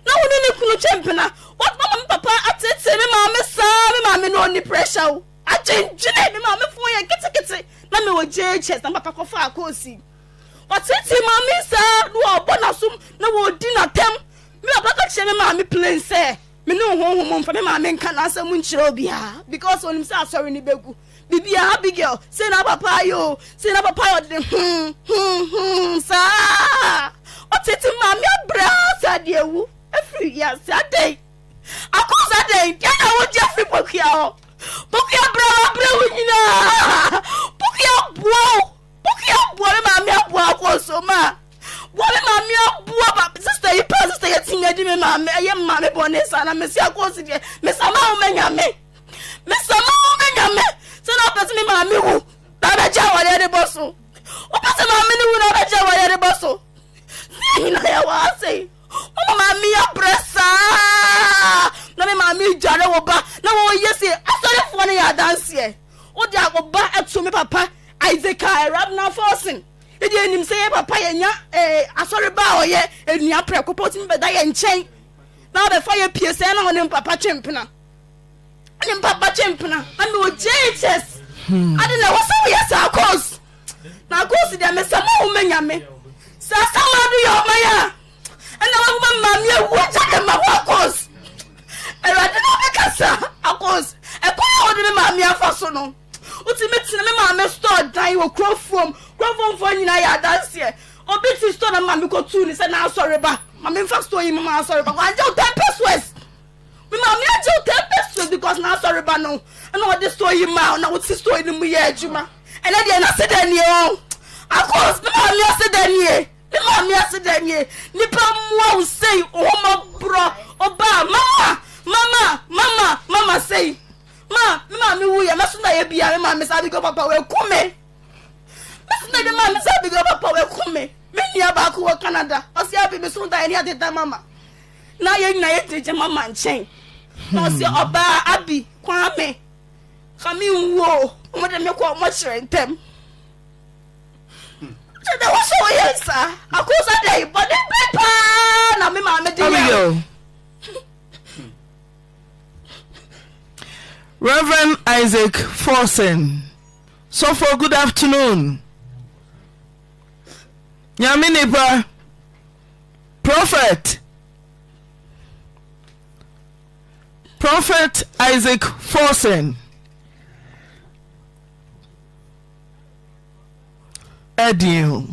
na wo ne ne kunu kyɛ mpena what mama me papa atete me maa me saa me maa me na ɔni pressure wo agyengyene me maa me fo yɛ ketekete na me wɔ jhs na papa kɔfa akɔsi ɔtete maa me saa na ɔbɔ n'asom na wɔdi n'atɛm me papa ka kyerɛ me maa me plain sɛ Me ne wo honhom mfa me maame nka n'asɛm nkyerɛ obiara because onim sɛ asɔre no bɛgu biribiara Abigail sei na papa ayɛ o sei na papa ayɛ ɔde ne hmm hmm hmm saa ɔtete maame abrɛ saa de awu afiri wiase adɛn akɔs adɛn deɛ na wogye afiri pokua hɔ pokua brɛ wabrɛ wo nyinaa pokua boa o Bukky aboa me maame aboa akɔnso ma boa me maame aboa ba sista yi pa sista yɛ ti nya di me maame ɛyɛ me maame bɔ ne sa na me si akɔnso deɛ me sa ma wo mɛnya me me sa ma wo mɛnya me sɛ na ɔpɛ sɛ me maame wu na abɛgya awadeɛ de bɔ so ɔpɛ sɛ maame ne wu na abɛgya awadeɛ de bɔ so ne nyinaa yɛ wɔ ase yi. Wo maame abrɛ saa na me maame redware wo ba na wɔyɛ se asɔrefoɔ no yɛ adanseɛ. Wo de wo ba ato me papa Isaac a Rabna Forsen. Yɛ deɛ nim sɛ yɛ papa yɛ nya eh, asɔre ba a ɔyɛ enua prɛko pɛ otumi bɛda yɛ nkyɛn na ɔbɛfa yɛ pie sɛ na ɔne papa twempena. ne mpapa gye mpena ɛna ogye jesus hmm. ade na ɛwɔ sɛ woyɛ saa cos na cos deɛ mesɛ ma wo manya me sɛ asama do yɛ ɔman a ɛna wobɛma mmame awu agya de ma wo akos awurade na bɛka sa akos ɛkwan a wode me maame afa so no wotumi tena me maame store dan wɔ kurofuom kurofomfoɔ nyinaa yɛ adanseɛ obi ti store na maame kɔtuu ne sɛ n'asɔre ba maame nfa store yi ma m'asɔre ba wɔagye wo ten pesos Me maame agye wo ten pesos because n'asɔreba no na ɔde store yi maa wo na wote store no mu yɛ adwuma. Ɛnɛ deɛ n'ase dɛ nie o. Akos, me maame ase dɛ nie. Me maame ase dɛ nie. Nipa mmoa wo sei ohomɔborɔ obaa mama mama mama mama sei. Ma me maame wu yɛ mɛso na yɛ bia me maame saa bigɔ papa wɛku me. Mɛso na yɛ maame saa bigɔ papa wɛku me. Me nua baako wɔ Canada ɔsi abi me so da yɛ ne ateta mama. na yɛn nyinaa yɛ gyinagyina mama nkyɛn na ɔsi hmm. ɔbaa abi kwame kame nwuo ɔmo de me kɔ ɔmo kyerɛ ntɛm kyɛ dɛ wɔhyɛ wɔ yɛ nsa akosa dɛ bɔne bi paa na me maame de yɛ Reverend Isaac Forsen sɔfo good afternoon nyame nipa Prɔfɛt Prɔfɛt Isaac Forson ɛdeɛn o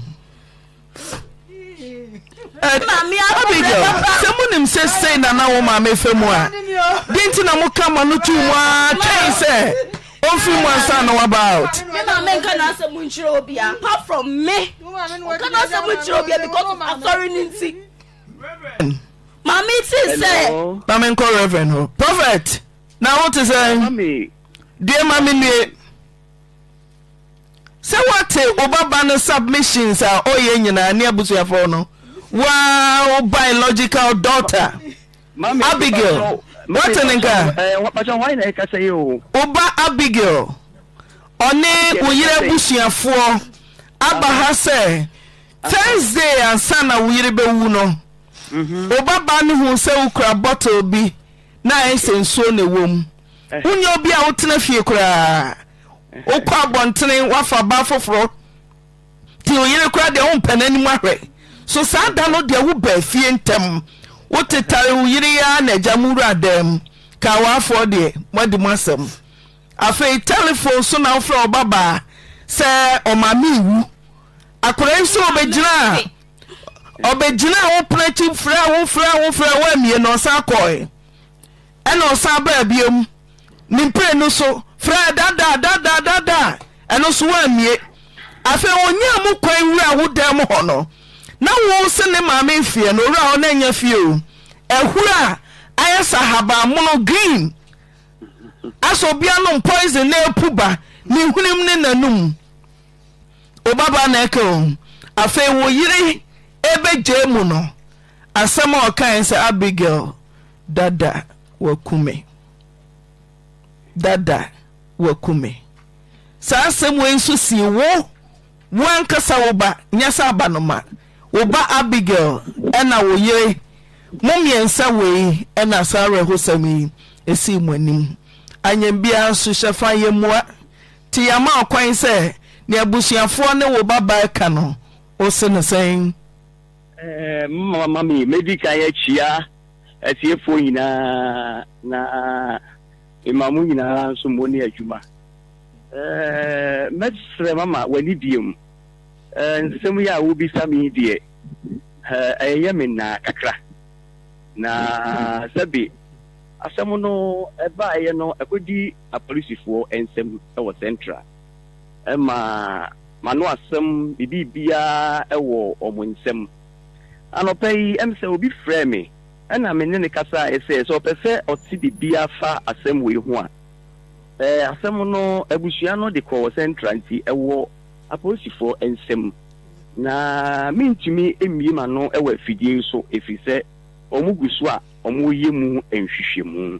Abigail sɛ monim sɛ sei na na wo maame fa mu a deɛ nti na moka ma no tuu mu ara twɛn sɛ Omfiri mu ansa na waba out. Me maame nka n'asɛm nkyerɛ obia apart from me. Ɔka n'asɛm nkyerɛ obia because of asɔre ne nti. Reverend. Maame ti sɛ. Na me nkɔ reverend hɔ. Prophet na wo te sɛ. Deɛ ma me nue. Sɛ wate wo baba no submissions a ɔyɛ nyinaa ne abusuafoɔ no. Waa wo biological daughter. Abigail, woate no nka? Wo ba Abigail, ɔne wo yere abusuafoɔ aba ha sɛ Thursday ansa na wo yere bɛwu no, mhm. wo babaa no hu sɛ wokura bottle bi na ayɛ sɛ nsuo na ɛwɔ mu. Eh. Wonyɛ obi a wotena fie koraa, wokɔ abɔntene, woafa baa foforɔ. Nti wo yere koraa deɛ wompɛ n'anim ahwɛ. So saa da no deɛ wobaa fie ntɛm, wotetare wo yere yi ara na agya mo wuraa dan mu kaa w'afoɔ deɛ, moadi mo asɛm. Afei tɛlefon so na wofrɛ wo babaa sɛ ɔmaame rewu. Akwadaa yi nso ɔbɛgyinaa ɔbɛgyinaa wo pono akyi frɛɛ wo frɛɛ wo frɛɛ wo ammue na ɔsan kɔeɛ. Ɛna ɔsan baa bio ne mprenu so frɛɛ dada dada dada a ɛno nso woammue. Afei onyaa mu kwan wuraa wo dan mu hɔ no, na wo se ne maame mfeɛ no owura hɔ na ɛnyɛ fie o, ahuro a ayɛ sɛ ahabammono, green, asɛ obi anom poison na ɛrepu ba ne hwenem ne n'anum. Wo babaa na ɛka o. Afei wo yere ɛbɛgyaa mu no, Asɛm a ɔkae ne sɛ, Abigail, dada wɔaku me. Dada wɔaku me. Saa asɛm wei nso sii wo, wo ankasa wo ba, nyɛ sɛ abanoma, wo ba Abigail ɛna wo yere, mo mmiɛnsa wei ɛna saa awerɛhosɛm yi esii mo anim. Anyɛ biara nso, hyɛ fa yɛ mmoa. Nti yɛama wo kwan sɛ nea abusuafoɔ ne wo babaa reka no, wose no sɛn? Momma me medi kan akyia atiefoɔ nyinaa na mema mo nyinaa nso mo ne adwuma. Mɛsrɛ mama w'ani bie mu. Nsɛm yi a wobisa me yi deɛ, ɛyɛ me nnaa kakra. Na sɛbe asɛm no baeɛ no ɛkɔdi apolisifoɔ nsam wɔ Central. ma m'ano asɛm me biribiara wɔ wɔn nsam. Anɔpa yi ɛm sɛ obi frɛɛ me ɛna me ne no kasaeɛ sɛ sɛ ɔpɛ sɛ ɔte biribiara fa asɛm wei ho a. Ɛɛ asɛm no abusua no de kɔ wɔ Central nti ɛwɔ apolisifoɔ nsam na mentumi mmue m'ano wɔ afidie yi so ɛfiri sɛ wɔn gu so a wɔreyɛ mu nhwehwɛmu.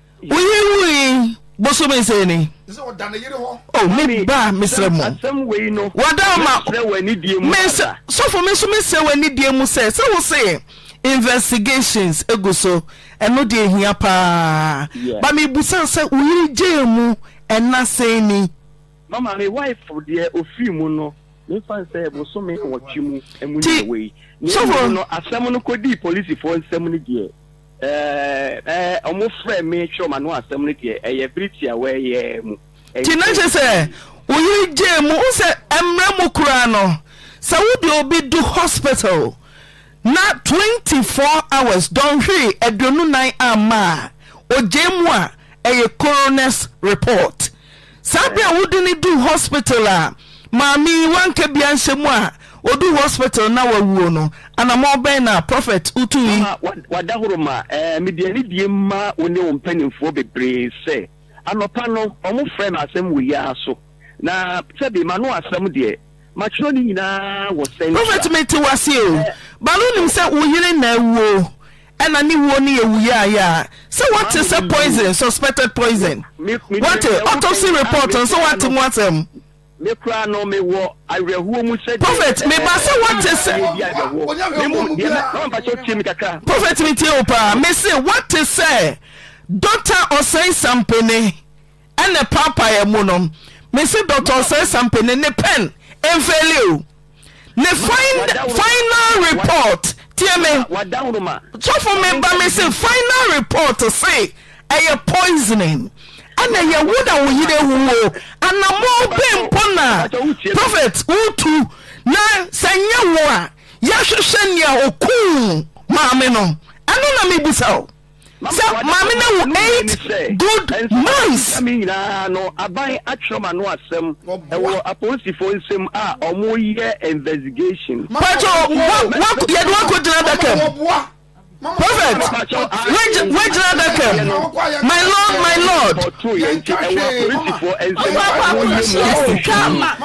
Woyi wui bosome sɛ ni. Oh me ba mesrɛ mo. Wada ma me sɛ sɔfo me nso mesrɛ wɔ anidie mu sɛ sɛ wo se investigations egu so ɛno deɛ ehia paa. Ba me busa sɛ wo yere gyee mu ɛna sɛn ni. Mama me wife deɛ ofiri mu no me fa sɛ bosome nwɔtwe mu ɛmu ni na wei. Ti sɔfo. Asɛm no kɔdii polisifoɔ nsam no deɛ. Ɛɛ, ɛɛ, wɔfrɛɛ me twerɛɛ m'ano asɛm no deɛ, ɛyɛ bere tiawaa yi ara mu. Nti na kyerɛ sɛ wo yere gyee mu. Wohu sɛ mmara mu koraa no, sɛ wode obi du hospital na twenty four hours, dɔnhwere aduonu nnan amma a, ogyaa mu a, ɛyɛ coroner's report. Saa bere a wode no duu hospital a maame yi wanka bi anhyɛ mu a oduu hospital na wawuo no, anammɔn bɛn na Prophet wotui? Mama wada horo ma eh, mede anidie ma wo ne wo mpanimfoɔ bebree sɛ anɔpa no wɔfrɛɛ me asɛm wei ara so, na sɛbe m'ano asɛm deɛ Matwerɛ ne nyinaa wɔ central. Prophet me te wase o but wonim sɛ wo yere na awuo ɛna ne wuo no yɛ wu yaayaa sɛ wate sɛ poison suspected poison wate autopsy report nso wate mu asɛm. Me koraa no me wɔ awerɛhoɔ mu sɛ deɛ Prophet me ba sɛ wate sɛ. ɛyɛ bi awerɛhoɔ me mu deɛ mɛ mama mpa sɛ tie me kakra. Prophet me tie wo paa me se wate sɛ Doctor Osei Sampene. Ɛnɛ paapaeɛ mu no me se Doctor Osei Sampene ne pen mfeeli o. Ne final report tie me sɔfo me ba me se final report se ɛyɛ poisoning ɛna ɛyɛ wo na wo yere awu o anamɔ bɛn mpo na prophet wotu na sɛ nyɛ wo a yɛhwehwɛ nea okum maame no ɛno na mebisa o. sɛ maame no awu eight good months. Ɛnso ɛnam nyinaa no aban atwerɛ m'ano asɛm ɛwɔ apolisifoɔ nsam a wɔreyɛ investigation. Pacho wo yɛde wakɔ gyina adaka mu prophet wagyina adaka mu my lord my lord. Ɛwɔ apolisifoɔ nsam a wɔreyɛ mu.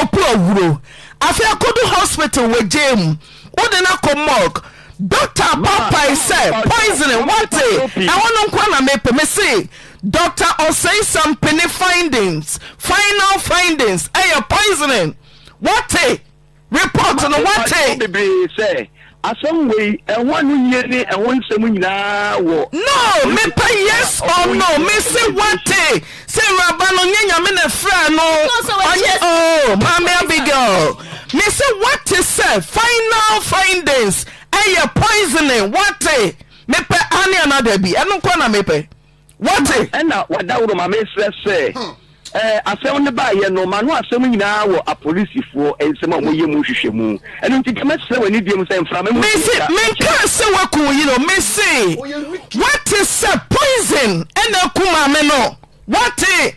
Oku awuro afei akodu hospital wagyae mu wode no akɔ morgue doctor abɔ apae sɛ poisoning wate ɛhɔ no nkoa na mepɛ mese Doctor Oseisam pene findings final findings ɛyɛ poisoning wate report no wate. Asɛm wei, ɛho ano yie ne ɛho nsɛm nyinaa wɔ. No, mepɛ yes or no, mese wate sɛ awuraba no nyɛ Nyame na ɛfraa no, ɔnyɛ oh, Maame Abigail, mese wate sɛ final findings ɛyɛ poisoning, wate, mepɛ aane anaa dabi, ɛno nkoa na mepɛ. Wate? Ɛna wadaworo ma mesrɛ sɛ ɛɛ eh, asɛm no baayɛ no ma no asɛm nyinaa wɔ apolisifoɔ nsɛm a wɔyɛ mu hwehwɛ mu ɛno nti deɛ mɛsrɛ w'ani deɛ mu sɛ mframa mu mese menkaa sɛ woaku wo yere mese woate sɛ poison ɛna aku maame no wate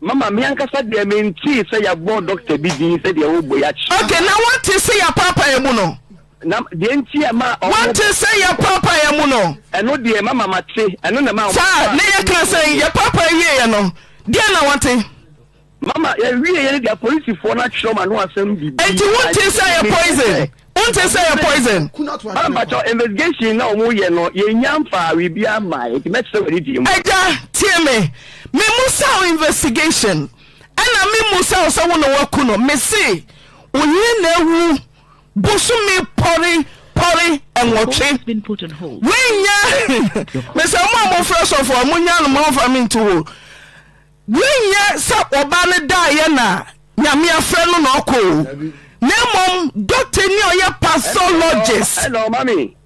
Mama, me ankasa deɛ mentee sɛ yɛabɔ dɔkta bi din sɛ deɛ ɔrebɔ yi akyerɛ. Okay, na woate sɛ yɛapaapaeɛ mu no? Na deɛ nti a ɛmaa ɔmo. Woate sɛ yɛapaapaeɛ mu no? Ɛno deɛ, Mama, mate. Ɛno na ɛmaa ɔmo. Saa, na yɛkaa sɛ yɛpaapae wieeɛ no, deɛn na woate? Mama, yɛwieeɛ no deɛ, apolisifoɔ no atwerɛ m'ano asɛm biribi. Enti wontee sɛ ɛyɛ poison? Wonte sɛ yɛ poison. Maa mpakyɛ investigation na wɔn yɛ no yɛn nya nfaa wi bi ama yɛ nti mɛkyerɛ wɔ ne die mu. Agya tie me me musaw investigation ɛna me musaw sɛ wo na waku no me se wo yere na awu bosome pɔre pɔre ɛnwɔtwe wei nya me sɛ mo a mo frɛ sɔfo a mo nya no mo nfa me nto hɔ. Nnyɛ sɛ ɔbaa no daeɛ na Nyame afrɛ no na ɔkɔ o, na mmom doctor ni a ɔyɛ pathologist. Ɛna ɔma me.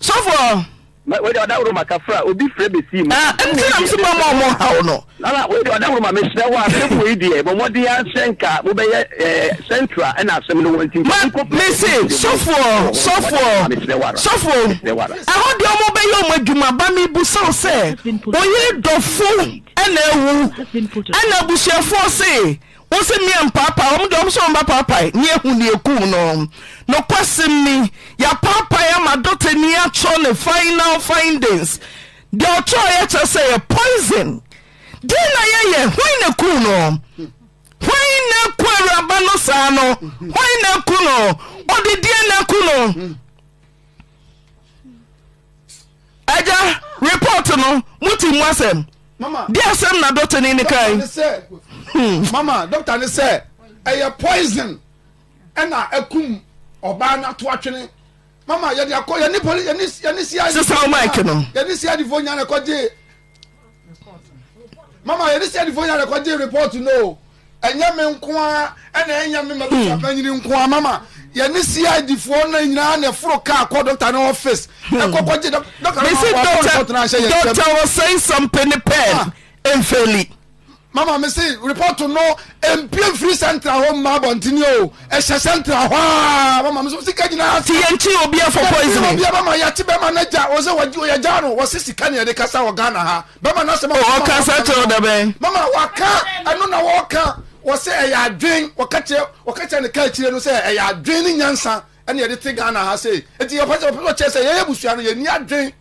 Sɔfoɔ. Ma wei deɛ ɔda woroma ka fra obi frɛ bɛsii mu. Ah, ɛno nti na mese mama ɔmo haw no. Nana wei deɛ ɔda woroma mesrɛ wo asɛm wei deɛ bɔ mmɔden ara sɛ nka mobɛyɛ eh, central ɛna asɛm no wɔ nti nka wokɔ Ma mese sɔfoɔ, sɔfoɔ, sɔfoɔ, ɛhɔ deɛ ɔmo bɛyɛ ɔmo adwuma ba mebusa wo sɛ oyere dɔfo ɛna awu ɛna abusuafoɔ se wo se meɛ mpaapae wɔn deɛ wɔn sɛ wɔn ba paapae ne ehu ne ekum no nokwasem ni yapaapae ama dɔkta ni atwerɛ ne final findings deɛ ɔtwerɛ yɛ kyerɛ sɛ yɛ poison deɛ na yɛyɛ hwan na ekum no hwan na eku awuraba no saa no hwan na eku no ɔde deɛ na eku no. Agya, report no, mo te mu asɛm? Mama. Di asɛm na doctor ni ne kan. Hmm. Mama, doctor ne sɛ, ɛyɛ poison ɛna ɛkum ɔbaa no ato atwene. Mama, yɛde akɔ, yɛne poli, yɛne, yɛne CID. Sisan o mic no. Yɛne CID fo nyane kɔgye mama yɛ de sɛ nifo yɛ de kɔ gye report no ɛnyɛ me nko a ɛna ɛnyɛ me ma bi sapa nyini nko a mama yɛ ne cid foɔ no nyinaa na ɛforo kaa kɔ dɔkta ne ɔfis ɛkɔ kɔ gye dɔkta ne ma wɔn report no ahyɛ yɛn nsɛm. dɔkta wɔ sɛn sɛmpɛ ne pɛn mfɛli. Mama me se report no mpie mfiri central hɔ mma abɔntene o ɛhyɛ central hɔ a mama me so sika nyinaa asa. Ti yɛn kyi obiara for poison. Yɛn kyi obiara mama yɛte bɛma no gya o sɛ wɔyɛ gya no wɔse sika ne yɛde kasa wɔ Ghana ha bɛma no asɛm. O ɔka sa kyerɛ da bɛn. Mama waka ɛno na wɔka wɔse ɛyɛ adwen wɔka kyerɛ wɔka kyerɛ ne ka akyire no sɛ ɛyɛ adwen ne nyansa ɛne yɛde te Ghana ha sei eti ɔpɛ sɛ ɔpɛ sɛ ɔkyerɛ sɛ yɛyɛ busua no yɛni adwen.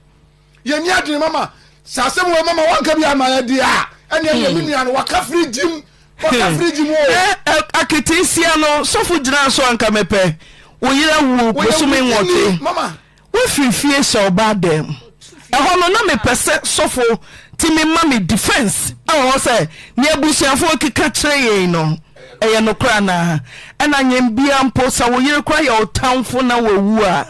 yɛni adwene mama sɛ asɛm wɔ mama wanka bi ama yɛ deɛ a ɛne ɛyɛ hmm. me nua no waka firi gyim waka hmm. firi gyim o. Eh, eh, akete sia no sɔfo gyina so anka mepɛ wo yere awu bosome nwɔte wofiri fie hyɛ ɔbaa dɛm ɛhɔ no na mepɛ sɛ sɔfo tumi ma me defense ɛwɔ hɔ sɛ ne abusuafoɔ keka kyerɛ yɛn no ɛyɛ nokora naa ɛna nyɛn bia mpo sɛ wo yere kora yɛ ɔtamfo na wawu a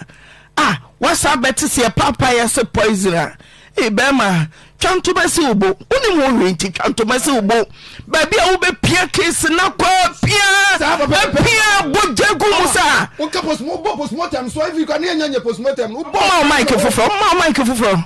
Ah wasa abɛte seɛ paapa yɛ se poison a ee bɛɛma twa ntoma si wo bo wonim ho hwee nti twa ntoma si wo bo baabi a wobɛpia case na kɔ pia pia bogya gu mu saa wonka postmortem so iv kwa ne yɛnya nyɛ postmortem no wobɔ ma wo mike foforɔ ma wo mike foforɔ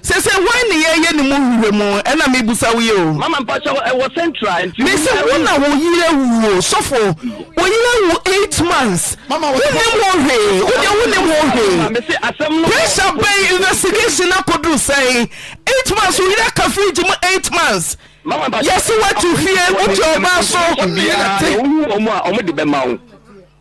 Sese hwan ne yɛ yɛ ne mu hwehwɛ mu ɛna me busa wo yi o. Mama mpakyɛw ɛwɔ central nti. Me se wo na wo yere wu o sɔfo wo yere wu eight months wo nim ho hwee wo deɛ wo nim ho hwee pressure bɛn investigation no akoduru sɛn eight months wo yere aka fridge mu eight months yɛse watu fie wote ɔbaa so. Obiara na wohu wɔn a wɔde bɛma wo.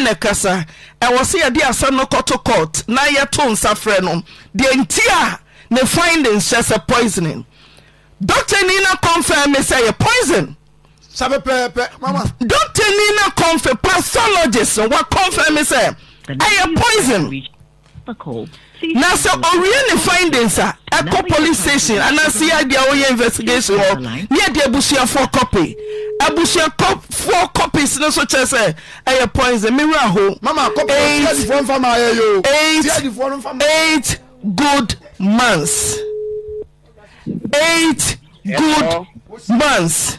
na ɛkasa. Ɛwɔ sɛ yɛde asɛm no kɔto court na yɛto nsa frɛ no deɛ nti a ne findings kyerɛ sɛ poisoning. Doctor ni na confirm me sɛ yɛ poison. Sa pɛpɛɛpɛ, mama. Doctor ni na confirm, pathologist no wa confirm me sɛ ɛyɛ poison. Na sɛ owie ne findings a, ɛkɔ police station anaa CID a wɔyɛ investigation hɔ ne ɛde abusuafoɔ copy. Abusuafoɔ copies no nso kyerɛ sɛ ɛyɛ poison. Me werɛ aho. Mama, copy no Eight- CID foɔ nfa maa yɛ yo. eight CID foɔ no nfa maa. eight good months eight good months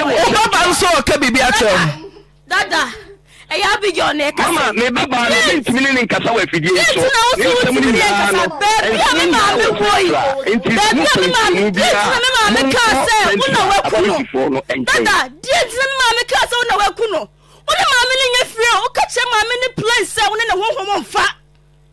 wobɛba nso ɔka biribi akyerɛ wo dada ɛyɛ abigail na ɛka mama me ba baa no bi ntumi ne ne nkasa wɔ afidie yi so ne nsɛm no nyinaa no baabi a me maame wɔ yi baabi a me maame deɛ nti na me maame kaa sɛ wo na waku no dada deɛ nti na me maame kaa sɛ wo na waku no wo ne maame no nyɛ fie o woka kyerɛ maame no plain sɛ wo ne ne honhom mfa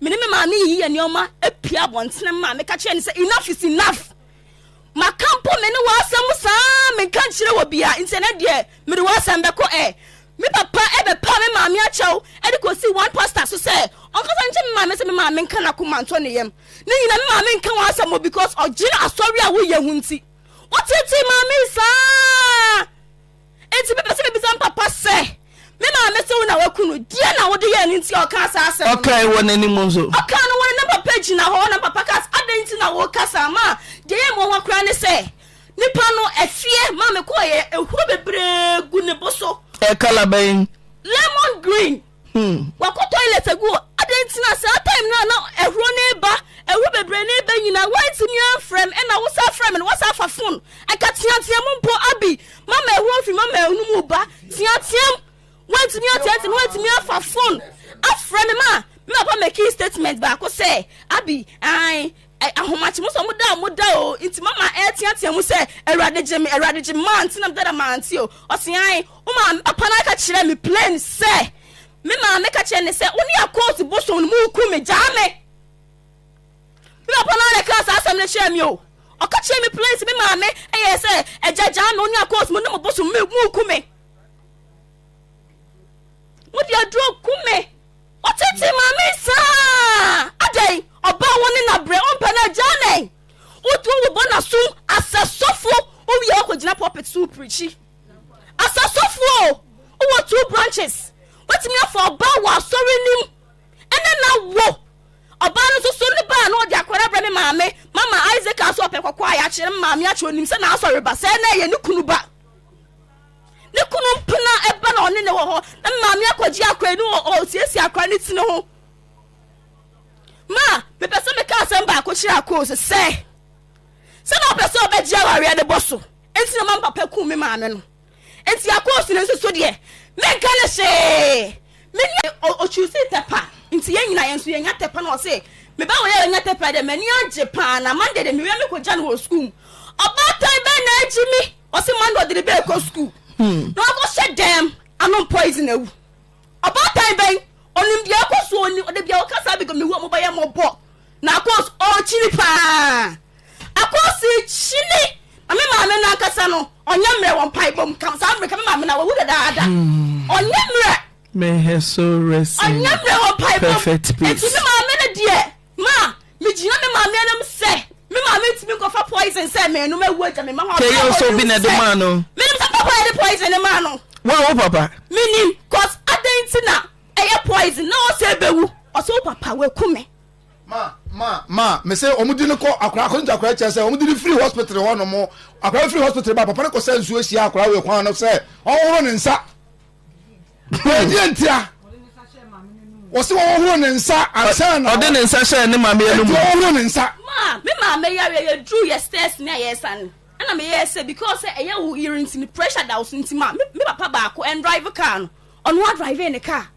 Me ne me maame yiyi yɛn nneɛma pue abɔnten. Me maame ka kyerɛ no sɛ, Enough is enough! Maka mpo me ne w'asɛm mu saa, menka nkyerɛ wɔ bia, nti ɛnɛ deɛ mede w'asɛm bɛkɔ ɛ. Me papa bɛpaa me maame akyɛw de kɔsii one pastor so sɛ ɔnkasa nkyɛ me maame sɛ me maame nka n'akoma ntɔ ne yam. Ne nyina me maame nka w'asɛm o because ɔgyee asɔre a woyɛ ho nti. Wotetee maame saa! Enti mepɛ sɛ mibisa me papa sɛ, Me maame se wo na woaku no, deɛn na wode yɛɛ no nti a ɔkaa saa asɛm no? Ɔkae wɔ n'anim nso. Ɔkaa no wɔ ne na papa gyina hɔ, na me papa kaa sɛ, Adɛn nti na woreka saa? Ma deɛ ɛyɛ me nwanwa koraa ne sɛ, nipa no, ɛfeɛ ma mekɔeɛ, ehuro bebree gu ne bo so. Ɛyɛ kala bɛn? Lemon green. Hmm. Wakɔ toilet agu o. Adɛn nti na saa time no a na ahuro no reba, ahuro bebree no reba nyinaa, woantumi amfrɛ me, ɛna wosan frɛ me no, woasan afa phone. Anka teateam mpo, Abi, mama ahuro mfiri mama no mu ba, teateam, woantumi ateateam, woantumi afa phone afrɛ me ma, me papa making statement baako sɛ, Abi, ae, Ɛyɛ ahomakye mo sɛ ɔmo da a ɔmo da o nti mama ɛɛteatea mu sɛ Awurade gye me, Awurade gye me mante na meda da mante o. Ɔse ae, wo maame papa no aka kyerɛ me plain sɛ me maame ka kyerɛ ne sɛ wo ne Akoosi bosom no mo ku me gyaa me. Me papa no ara na ɛkaa saa asɛm no kyerɛ me o. Ɔka kyerɛ me plain sɛ me maame ɛyɛ sɛ agya gyaa me wo ne Akoosi mo ne mo bosom me mo ku me. Mo de aduro ku me. Ɔtete maame saa adɛn ɔbaa wo ne na brɛ ɔmpɛ no agyaa nɛn wotu wobɔ na so asɛ sɔfo wowie wakɔ gyina pulpit so pirikyi asɛ sɔfo o wowɔ two branches watumi afa ɔbaa wɔ asɔre nim ɛnɛ na wo ɔbaa no soso ne baa na ɔde akɔra brɛ me maame mama Isaac aso ɔpɛ kɔkɔ a yɛakyerɛ me maame akyerɛ onim sɛ na asɔre ba sɛ na ɛyɛ ne kunu ba ne kunu mpena ɛba na ɔne ne wɔ hɔ na maame akɔgye akora yi ne ɔsiesie akora ne ti ne ho ma mepɛ sɛ meka asɛm baako kyerɛ akoo sɛ sɛ sɛ na ɔpɛ sɛ ɔbɛgye awareɛ ne bɔ so nti na ma papa ku me maame no nti akoo si ne nso so deɛ menka ne hyee mene ɔkyusi tɛpa nti yɛn nyina yɛn nso yɛnya tɛpa na ɔse meba wɔ yɛ yɛnya tɛpa dɛ m'ani agye paa na mande de mewia mekɔgya no wɔ sukuu ɔbaatan bɛn na agyi me Ɔsi Monday ɔde ne ba rekɔ sukuu na wakɔ hyɛ dɛm anom poison awu. Ɔbaatan bɛn ɔnim deɛ ɛkɔ so ɔnim ɔde bia ɔka saa because mehu ɔmo ba yɛ mɔbɔ na akɔs ɔkyini paa akɔs kyini na me maame no ankasa no ɔnyɛ mmerɛ wɔ mpae bom kam saa mmerɛ ka me maame no awawu dadaada ɔnyɛ mmerɛ mehɛ so resi perfect peace. Ma me gyina me maame anim sɛ me maame ntumi nkɔfa poison sɛ mɛnum ewu agya me ma hɔ. Kɛyɛ nso bi na ɛde maa no. Menim sɛ papa yɛde poison ne maa no. Wa wo papa. Menim cause adan nti na ɛyɛ poison na ɔsɛ ebewu. Ɔsɛ wo papa waku me. Ma ma ma mese wɔn di ne kɔ akora akɔn gya akora kyɛ sɛ wɔn di ne firi hospital hɔ nom akora firi hospital ba papa ne kɔ sɛ nsuo hyia akora wɔ kwan no sɛ ɔhohoro ne nsa. ɛdeɛ ntia wɔsi wɔn horo ne nsa ansa na ɔde ne nsa hyɛ ne maame yɛ no mu ɛdeɛ wɔhoro ne nsa. maa mi maame yare yɛ duru yɛ stairs ni a yɛ san ɛna mi yɛ sɛ because ɛyɛ wo yiri nti ni pressure da so nti ma mi papa baako ɛn drive car no ɔno a drive ne car.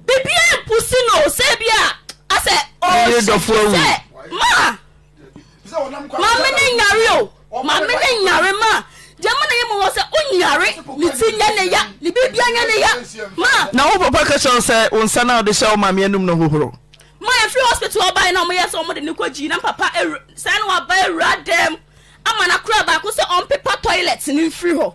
biribi ampusi no sɛ bi a asɛ ɔhyɛ sɛ maa maame ne nyare o maame ne nyare ma deɛ ma na yɛ mu wɔ sɛ onyare ne ti nyɛ ne ya ne biribia nyɛ ne ya ma na wo papa ka kyerɛ wo sɛ wo nsa no a wode hyɛ wo maame anum no hohoro ma ɛfiri hospital ɔbae na ɔmoyɛ sɛ ɔmode ne kɔ gyii na papa saa na waba awura dɛm ama no akora baako sɛ ɔmpepa toilet no mfiri hɔ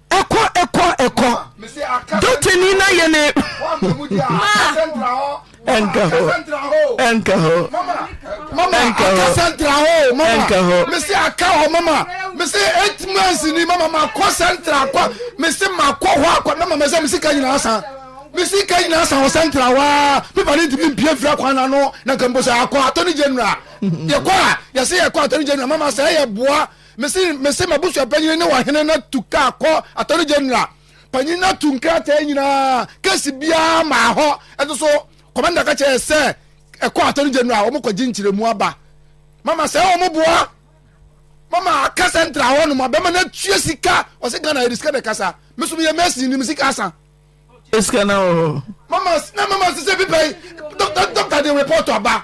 ɛkɔ ɛkɔ ɛkɔ dɔtani na yɛ ne ɛnka hɔ ɛnka hɔ ɛnka hɔ sɛntra hɔ mama ɛnka hɔ mesi aka hɔ mama mesi eight months ni mama ma kɔ sɛntra kɔ mesi ma kɔ hɔ akɔ mama mesi mesi ka nyinaa san mesi ka nyinaa san wɔ sɛntra hɔ aa pepa ne ntumi mpie fira kwan na no na nka mbosa akɔ atɔ ne general yɛ kɔ a yɛsi yɛ kɔ atɔ ne general mama sɛ yɛ boa. Mese mese m'abusuapanyin ne ɔhene no tu kaa kɔ attorney general panyin no atu nkrataa nyinaa kesi biara maa hɔ ɛno so kɔmanda ka kyerɛ sɛ ɛkɔ attorney general wɔn kɔgye nkyerɛmu aba mama sɛ wɔn boa mama kasa ntra hɔ nom abɛma no atua sika ɔsɛ ghana yɛde sika na ɛkasa mesom yɛ mɛsi nim sika asa esika na wɔ hɔ. mama na mama sɛ sɛ bipa yi dɔkta dɔkta de report aba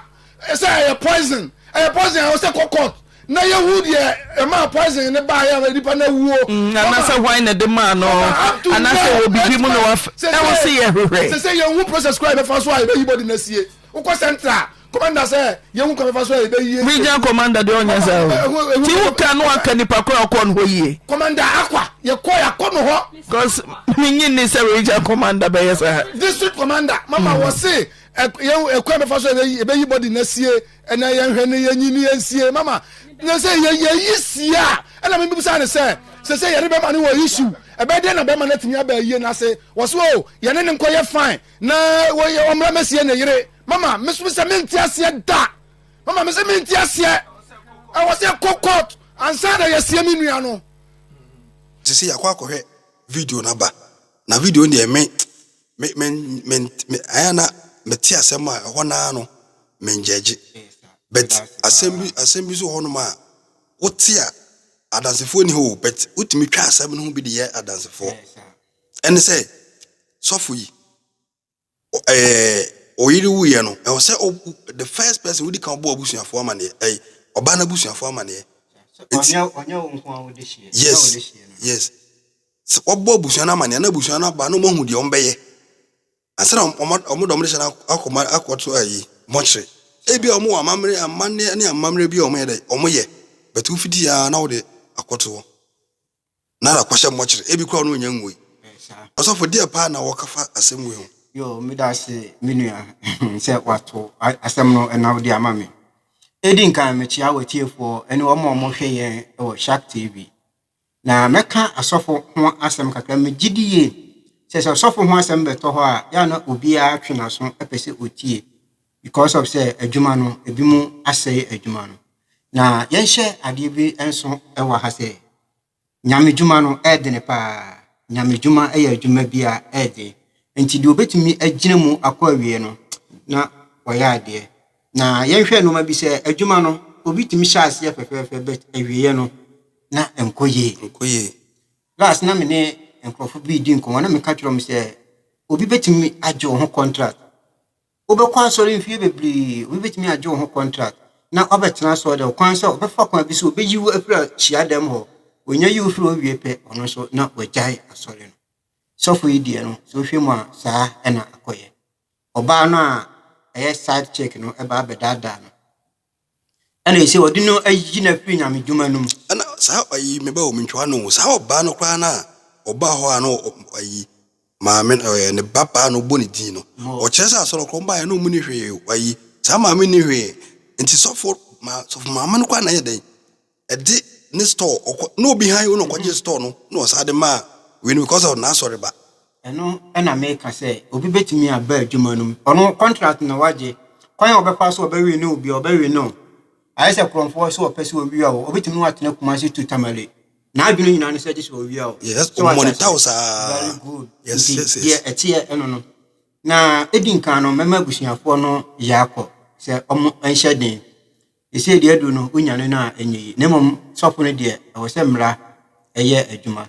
sɛ ɛyɛ poison ɛyɛ poison a ɔsɛ kɔ court na yɛhu deɛ ɛma poison ne ba yɛ nipa na wuo. Mm, anasɛ hwan na de maa no anasɛ wɔ bibi mu na wafɛ ɛho sɛ yɛhwehwɛ. sɛ sɛ yɛhu process kora yɛbɛfa so a yɛbɛyi bɔde no asie. Wokɔ central a, commander sɛ yɛhu kwan bɛfa so a yɛbɛyi yɛ. Regional commander deɛ ɔnyɛ saa o. Ti wo ka no aka nipa koro a ɔkɔ no hɔ yie. Commander akwa, yɛkɔ yɛakɔ no hɔ. Cos menye nni sɛ regional commander bɛyɛ saa. District commander mama wɔ se yɛhu kwan bɛfa so a yɛbɛyi body no asie ɛnɛ yɛnhwɛ no yɛnyi no yɛnsie mama na sɛ yɛyi sie a ɛna mebisa no sɛ sɛ sɛ yɛne bɛma no wɔ issue ɛbɛyɛ dɛn na bɛma no atumi aba ayie no ase wɔ so o yɛne no nkɔyɛ fine Na wɔyɛ ɔmmra mɛsie ne yere mama mesom sɛ mente aseɛ da mama me sɛ mente aseɛ ɛwɔ sɛ ɛkɔ court ansa na yɛasie me nua no te sɛ yɛakɔ akɔhwɛ video no aba na video no deɛ me me me me me ayɛ na mete asɛm a ɛhɔ naa no mengyɛgye but asɛm bi asɛm bi so hɔnom a wote a adansefoɔ ni hɔ o but wotumi twa asɛm no ho bi de yɛ adansefoɔ Ɛne sɛ, sɔfo yi, ɛɛ, ɔyere wuiɛ no, ɛwɔ sɛ the first person wodi kan ɔbɔ abusuafoɔ amaneɛ, ɛɛ, ɔbaa no abusuafoɔ amaneɛ. Yes, yes. Sɛ ɔbɔ abusua no amaneɛ na abusua no aba na ɔmo ahu deɛ ɔmo bɛyɛ. Ansa na ɔmo ɔmo dɔm de hyɛ no akɔma akɔto ayi mɔkyere. Ebi a ɔmo wɔ amammerɛ amanneɛ ne amammerɛ bi a ɔmo yɛ dɛ ɔmo yɛ. Bɛtu fiti yaa na ɔde akɔto hɔ. Na na kɔhyɛ mmɔkyere. Ebi koraa ɔno onnya ngui. Ɔsɔfo, deɛ paa na wɔka fa asɛm wei ho? Yo, meda ase me nua sɛ wato asɛm no na wode ama me. Edi nkan mekyia w'atiefoɔ ne wɔn a wɔhwɛ yɛn wɔ Shark TV. Na mɛka asɔfo ho asɛm kakra. Megye di yie sɛ sɛ ɔsɔfo ho asɛm bɛtɔ hɔ a, yɛ a na obiara twe n'aso pɛ sɛ ɔtie. because of sɛ adwuma no ebi mu asɛe adwuma no na yɛnhyɛ adeɛ bi nso wɔ ha sɛ nyamedwuma no ɛɛdene paa nyamedwuma ɛyɛ adwuma bi a ɛɛdene nti deɛ obetumi agyina mu akɔ awie no na wɔyɛ adeɛ na yɛnhwɛ nneɛma bi sɛ adwuma no obi tumi hyɛ aseɛ fɛfɛɛfɛ bɛt awieɛ no na nkɔ yie nkɔ yie last na me ne nkurɔfo bi di nkɔmɔ na meka kyerɛ wɔn sɛ obi betumi agye wɔn ho contract Wobɛkɔ asɔre mfeɛ bebree, obi bɛtumi agye wo ho contract na wabɛtena asɔre dɛm, ɔkwan sɛ ɔbɛfa kwan bi so ɔbɛyi wo afiri ahyia dɛm hɔ, ɔnya yi wo firi hɔ wie pɛ ɔno nso na wagyae asɔre no. Sɔfo yi deɛ no, sɛ wohwɛ mu a saa ɛna akɔyɛ. Ɔbaa no a ɛyɛ side chick no ɛbaa bɛdaadaa no. Ɛna ɛsɛ wɔde no ayi no afiri nyamedwuma no mu. Ɛna saa ɔyi meba wɔ mentwa no saa ɔbaa no koraa no a ɔbaa hɔ a na ɔyi maame ɔyɛ ne ba baa na ɔbɔ ne din no ɔkyerɛ sɛ asɔrɔ kɔn baa yɛ na ɔmu ni hwee ɔyi saa maame ni hwee nti sɔfo ma sɔfo maame no koraa na yɛ dɛn ɛde ne store ɔkɔ na obi han na ɔkɔgye store no na ɔsan de maa wei no because of n'asɔre ba. Ɛno na meka sɛ obi betumi aba adwuma no mu ɔno contract na wagye kwan a ɔbɛfa so ɔbɛwe ne obi ɔbɛwe no ayɛ sɛ korɔmfoɔ sɛ ɔpɛ sɛ owia o obetumi ne watena Kumasi to Tamale n'adwene nyinaa no sɛ gye sɛ owia o. Yes, so monitor saa. Very good. Yes, nti yes, yes. deɛ ɛteɛ ɛno no na edi nkan no mɛma abusuafoɔ no yɛ akɔ sɛ wɔn nhyɛ den. Seesei deɛ aduru no, wonyane no a, ɛnyɛ yie. Na mmom sɔfo no deɛ, ɛwɔ sɛ mmara yɛ adwuma.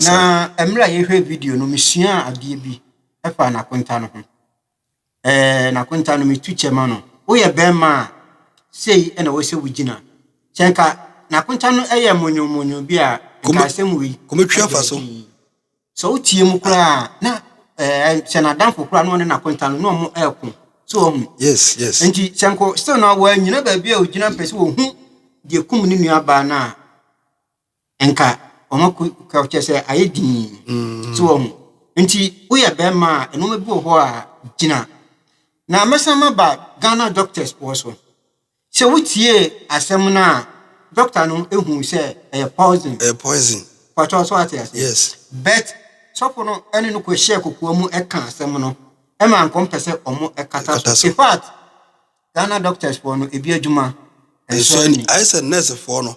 Na mmerɛ a yɛhwɛ video no, mesuaa adeɛ bi ɛfa nakonta no ho. Ɛɛ, nakonta no, metu kyɛ ma no. Woyɛ bɛrima a, sei na ɛwɔ sɛ wogyina. Sɛ nka nakonta no yɛ monyonmonyon bi a, nka asɛm wei. Kɔmɛtwi afa so. Sɛ wotie mu koraa a, na ɛɛ sɛ n'adamfo koraa na ɔne n'akonta no na wɔn ɛɛko. So wɔn. Yes, yes. Nti sɛ nko still na wɔanyina baabi a ogyina pɛ sɛ wɔhu deɛ kum ne nua baa no a, nka wɔn ako ka kyerɛ sɛ ayɛ dii. So wɔn. Nti woyɛ bɛrima a, nneɛma bi wɔ hɔ a gyina. Na mɛsan maba Ghana doctors wɔ so. Sɛ wotiee asɛm no a, dɔkta no hui sɛ ɛyɛ poison. Ɛyɛ poison. Pakyɛw, so ate aseɛ? Yes. But sɔfo no ne no kɔhyɛɛ kokoa mu ka asɛm no, ɛma nkɔmpɛ sɛ wɔkata so. In fact, Ghana doctors foɔ no, ebi adwuma nso ani. Ayɛ sɛ nurse foɔ no.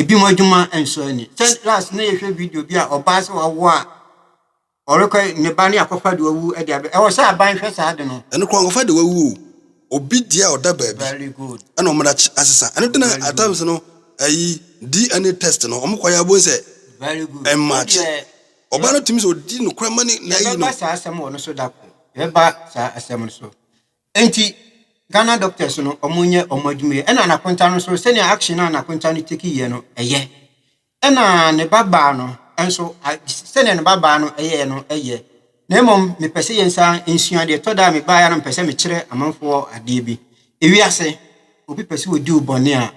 Ebinom adwuma nsɔ ani. Sɛ last na yɛhwɛ video bi a ɔbaa sɛ wawo a ɔrekɔ ne ba ne akɔfa de wawu de abɛ. Ɛwɔ sɛ aban hwɛ saa de no. Ɛno kora nkɔfa de wawu o. Obi deɛ a ɔda baabi ɛna wɔn akyi asesa. Ɛno de na at times no ɛyi DNA test no wɔn kɔ yɛ abɔ nsɛ ɛmmaakye. Ɔbaa no tumi sɛ ɔdi no kora ma ne na ayi no. Yɛbɛba saa asɛm wɔ no so da koro. Yɛbɛba saa asɛm no so. Enti Ghana doctors no ɔmo nyɛ ɔmo adwuma yi ɛna Nakonta no nso sɛnea action a Nakonta no take yɛ no ɛyɛ ɛna ne ba baa no nso sɛnea ne ba baa no ɛyɛ no ɛyɛ na mmom mepɛ sɛ yɛn saa nsua deɛ ɛtɔ da a mebaa ya no mepɛ sɛ mekyerɛ amanfoɔ adeɛ bi ewiase obi pɛ sɛ odi wo bɔne a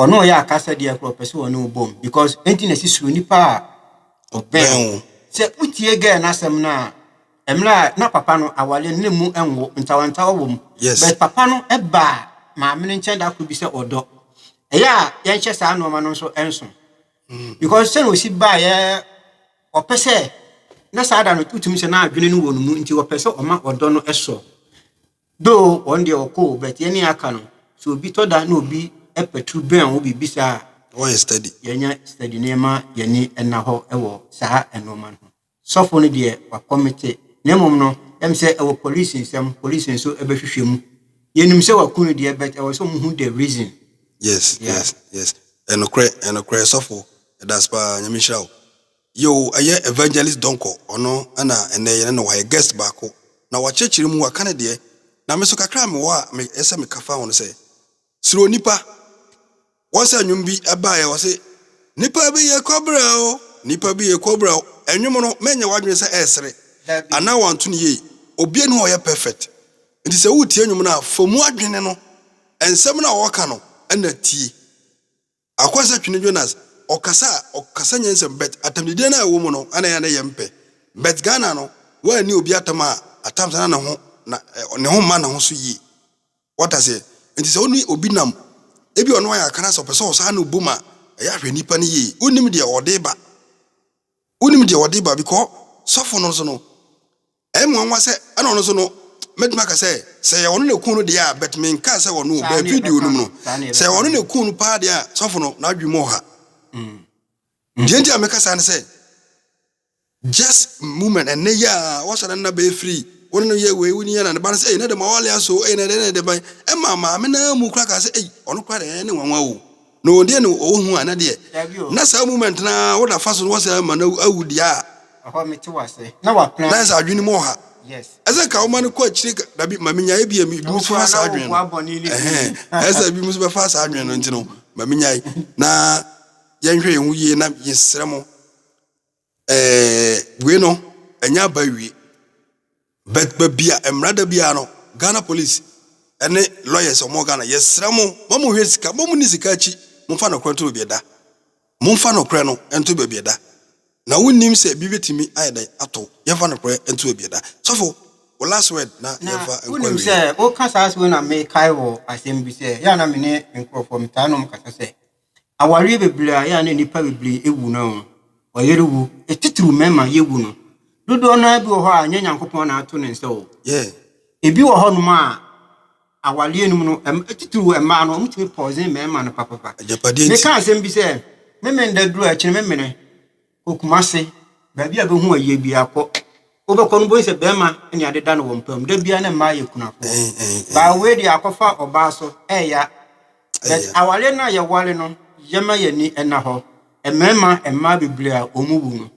Wɔne wo yɛ akasa deɛ korɔ pɛ sɛ wɔne wo bom because enti na ɛsi suro nipa a ɔbɛn wo sɛ wotie gɛɛ n'asɛm no a mmerɛ a na papa no awale no ne mu nwo ntawantawa wɔ mu yes. but papa no ɛbaa maame no nkyɛn da koro bi sɛ ɔdɔ ɛyɛ a yɛnhyɛ saa nneɛma no nso ɛnso mm. because sɛ na ɔsi baa yɛ ɔpɛ sɛ na saa da no wotumi sɛ na adwene no wɔ no mu nti ɔpɛ sɛ ɔma ɔdɔ no ɛsɔ Though wɔn deɛ wɔkɔ o but yɛne aka no sɛ obi tɔ da na obi patu bɛn wo biribi saa a, Ɛwɔ yɛ study. yɛnyɛ study na yɛma yɛani nna hɔ wɔ saa nnoɔma no ho. Sɔfo no deɛ wakɔmete na mmom no ɛm sɛ ɛwɔ police nsam, police nso bɛhwehwɛ mu. Yɛnim sɛ waku no deɛ but ɛwɔ sɛ wɔn hu the reason. Yes Yeah. yes yes ɛnokorɛ ɛnokorɛ sɔfo yɛdase paa nyame nhyira wo. Yoo ɛyɛ Evangelist Donkor ɔno na ɛnɛ yɛne no wɔ ha yɛ guest baako na wakyerɛkyerɛ mu waka ne deɛ na me nso kakra a mewɔ a ɛyɛ sɛ meka fa ho ne sɛ suro nnipa once nnwom bi baeɛ ɔse nnipa bi yɛ kɔbra o nnipa bi yɛ kɔbra o nnwom no mɛnyɛ w'adwene sɛ ɛresere anaa wanto ne yie obi ani hɔ ɔyɛ perfect nti sɛ woretie nnwom no a fa mu adwene no nsɛm no a wɔka no na tie Akwasa twene Jonas ɔkasa a ɔkasa nyansam but atamdidie no a ɛwɔ mu no na ɛyɛ a na yɛn mpɛ but Ghana no woa nni obi atam a atam saa na ne ho na ne ho mma ne ho so yie wate aseɛ nti sɛ wo ne obi nam ebi ɔno ayɛ akana sɛ ɔpɛ sɛ ɔsaa ne obom a ɛyɛ ahwɛ nipa no yie wonnim deɛ ɔde ba wonnim deɛ ɔde ba because sɔfo no nso no Ɛyɛ me nwanwa sɛ ɛna ɔno nso no mɛtumi aka sɛ sɛ yɛ ɔno na ɛkuu no deɛ a but menkaa sɛ ɔno o bɛɛ video no mu no sɛ yɛ ɔno na ɛkuu no paa deɛ a sɔfo no n'adwene mu ɔha. Deɛ nti a meka saa ne sɛ just moment ɛnɛ yi a wɔsɔ ne nna bɛɛ firi wo ne no yɛ wei wo ne yɛ na ne ba no sɛ ei na dɛm awale aso ei na dɛn na dɛn ban ɛma maame no ara mu kora kaa sɛ ei ɔno kora deɛ ɛyɛ ne nwanwa o Na wɔn deɛ na ɔwɔ hu a na deɛ na saa moment no ara woda fa so no wɔsɛ ama no awu deɛ a na ayɛ sɛ adwene mu ɔha ɛsɛ ka woma no kɔ akyire dabi ma menyaeɛ bi a ebi mu so fa saa adwene no ɛhɛn ɛsɛ ebi mu so bɛfa saa adwene no nti no ma menyae na yɛnhwɛ yɛn ho yie na yɛsrɛ mo Ɛɛ wei no ɛnyɛ aba awie but baabi a mmara da biara no ghana police ɛne lawyers wɔn wɔ ghana yɛsrɛ mo ma mo hwɛ sika mo mo ni sika akyi mo fa nɔkorɛ nto baabi ɛda mo nfa nɔkorɛ no nto baabi ɛda na wo nim sɛ ebi betumi ayɛ dɛ ato yɛn fa nɔkorɛ nto baabi ɛda sɔfo o last word na yɛn fa nkɔ awie. na wo nim sɛ o kasa ase wei na me kae wɔ asɛm bi sɛ yɛ ana me ne nkorɔfoɔ me taa nom kasa sɛ Awareɛ bebree a ɛyɛ a na nnipa bebree wu no, ɔyere wu, titiriw mmarima yɛwu no, dodoɔ no ara bi wɔ hɔ a, ɛnyɛ Nyankopɔn na ato ne nsa o. Yeah. Ebi wɔ hɔnom a, awareɛ no mu no, ɛm- titiriw mmaa no, wɔtumi pɔɔsen mmarima no papapa. Agyapadeɛ nti. Meka asɛm bi sɛ, me menda duru a, ɛkyerɛ me mene. Kɔ Kumasi, baabi a bɛhu ayie biaa kɔ. Wobɛkɔ no wobɛhu sɛ bɛɛma ne ade da no wɔn pɛ mu. Da biaa ne mmaa yɛ kunafoɔ. Baa wei deɛ akɔfa ɔbaa so ɛya. But awareɛ no a yɛware no yɛma y'ani nna hɔ. Mmarima mmaa bebree a wɔn wu no,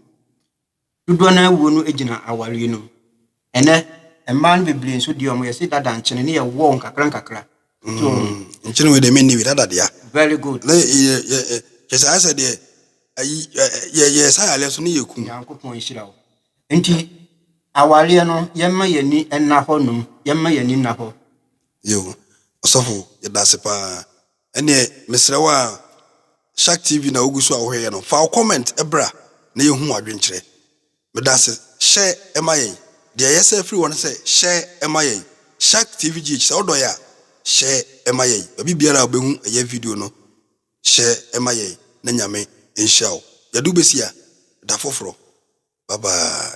dodoɔ no ara wuo no gyina awareɛ no mu. Ɛnɛ, mmaa no bebree nso deɛ wɔyɛ se dada nkyene no yɛ wɔɔ nkakra nkakra. So. Mm, nkyene wei deɛ menni bi, dada dea. Very good. Na yɛ yɛ kyɛ sɛ ayɛ sɛ deɛ ayi yɛ yɛ sa yaleɛ so ne yɛ kum. Nyankopɔn nhyira wo. Nti awareɛ no yɛmma yɛn ani nna hɔ nom, yɛmma yɛn ani nna hɔ. Yo, ɔsɔfo yɛda ase paa. Ɛneɛ mesrɛ wo a, Shark TV na wogu so a wohwɛ yɛ no, fa wo comment bra na yɛhu w'adwenkyerɛ. Meda ase. Hyɛ ma yɛn. Deɛ yɛ sɛ firi hɔ ne sɛ hyɛ ma yɛn. Shark TV GH sɛ wodɔ yɛ a hyɛ ma yɛn. Baabi biara a wobɛhu yɛ video no hyɛ ma yɛn na Nyame nhyira wo. Yɛde wo bɛsi a da foforɔ. Bye bye.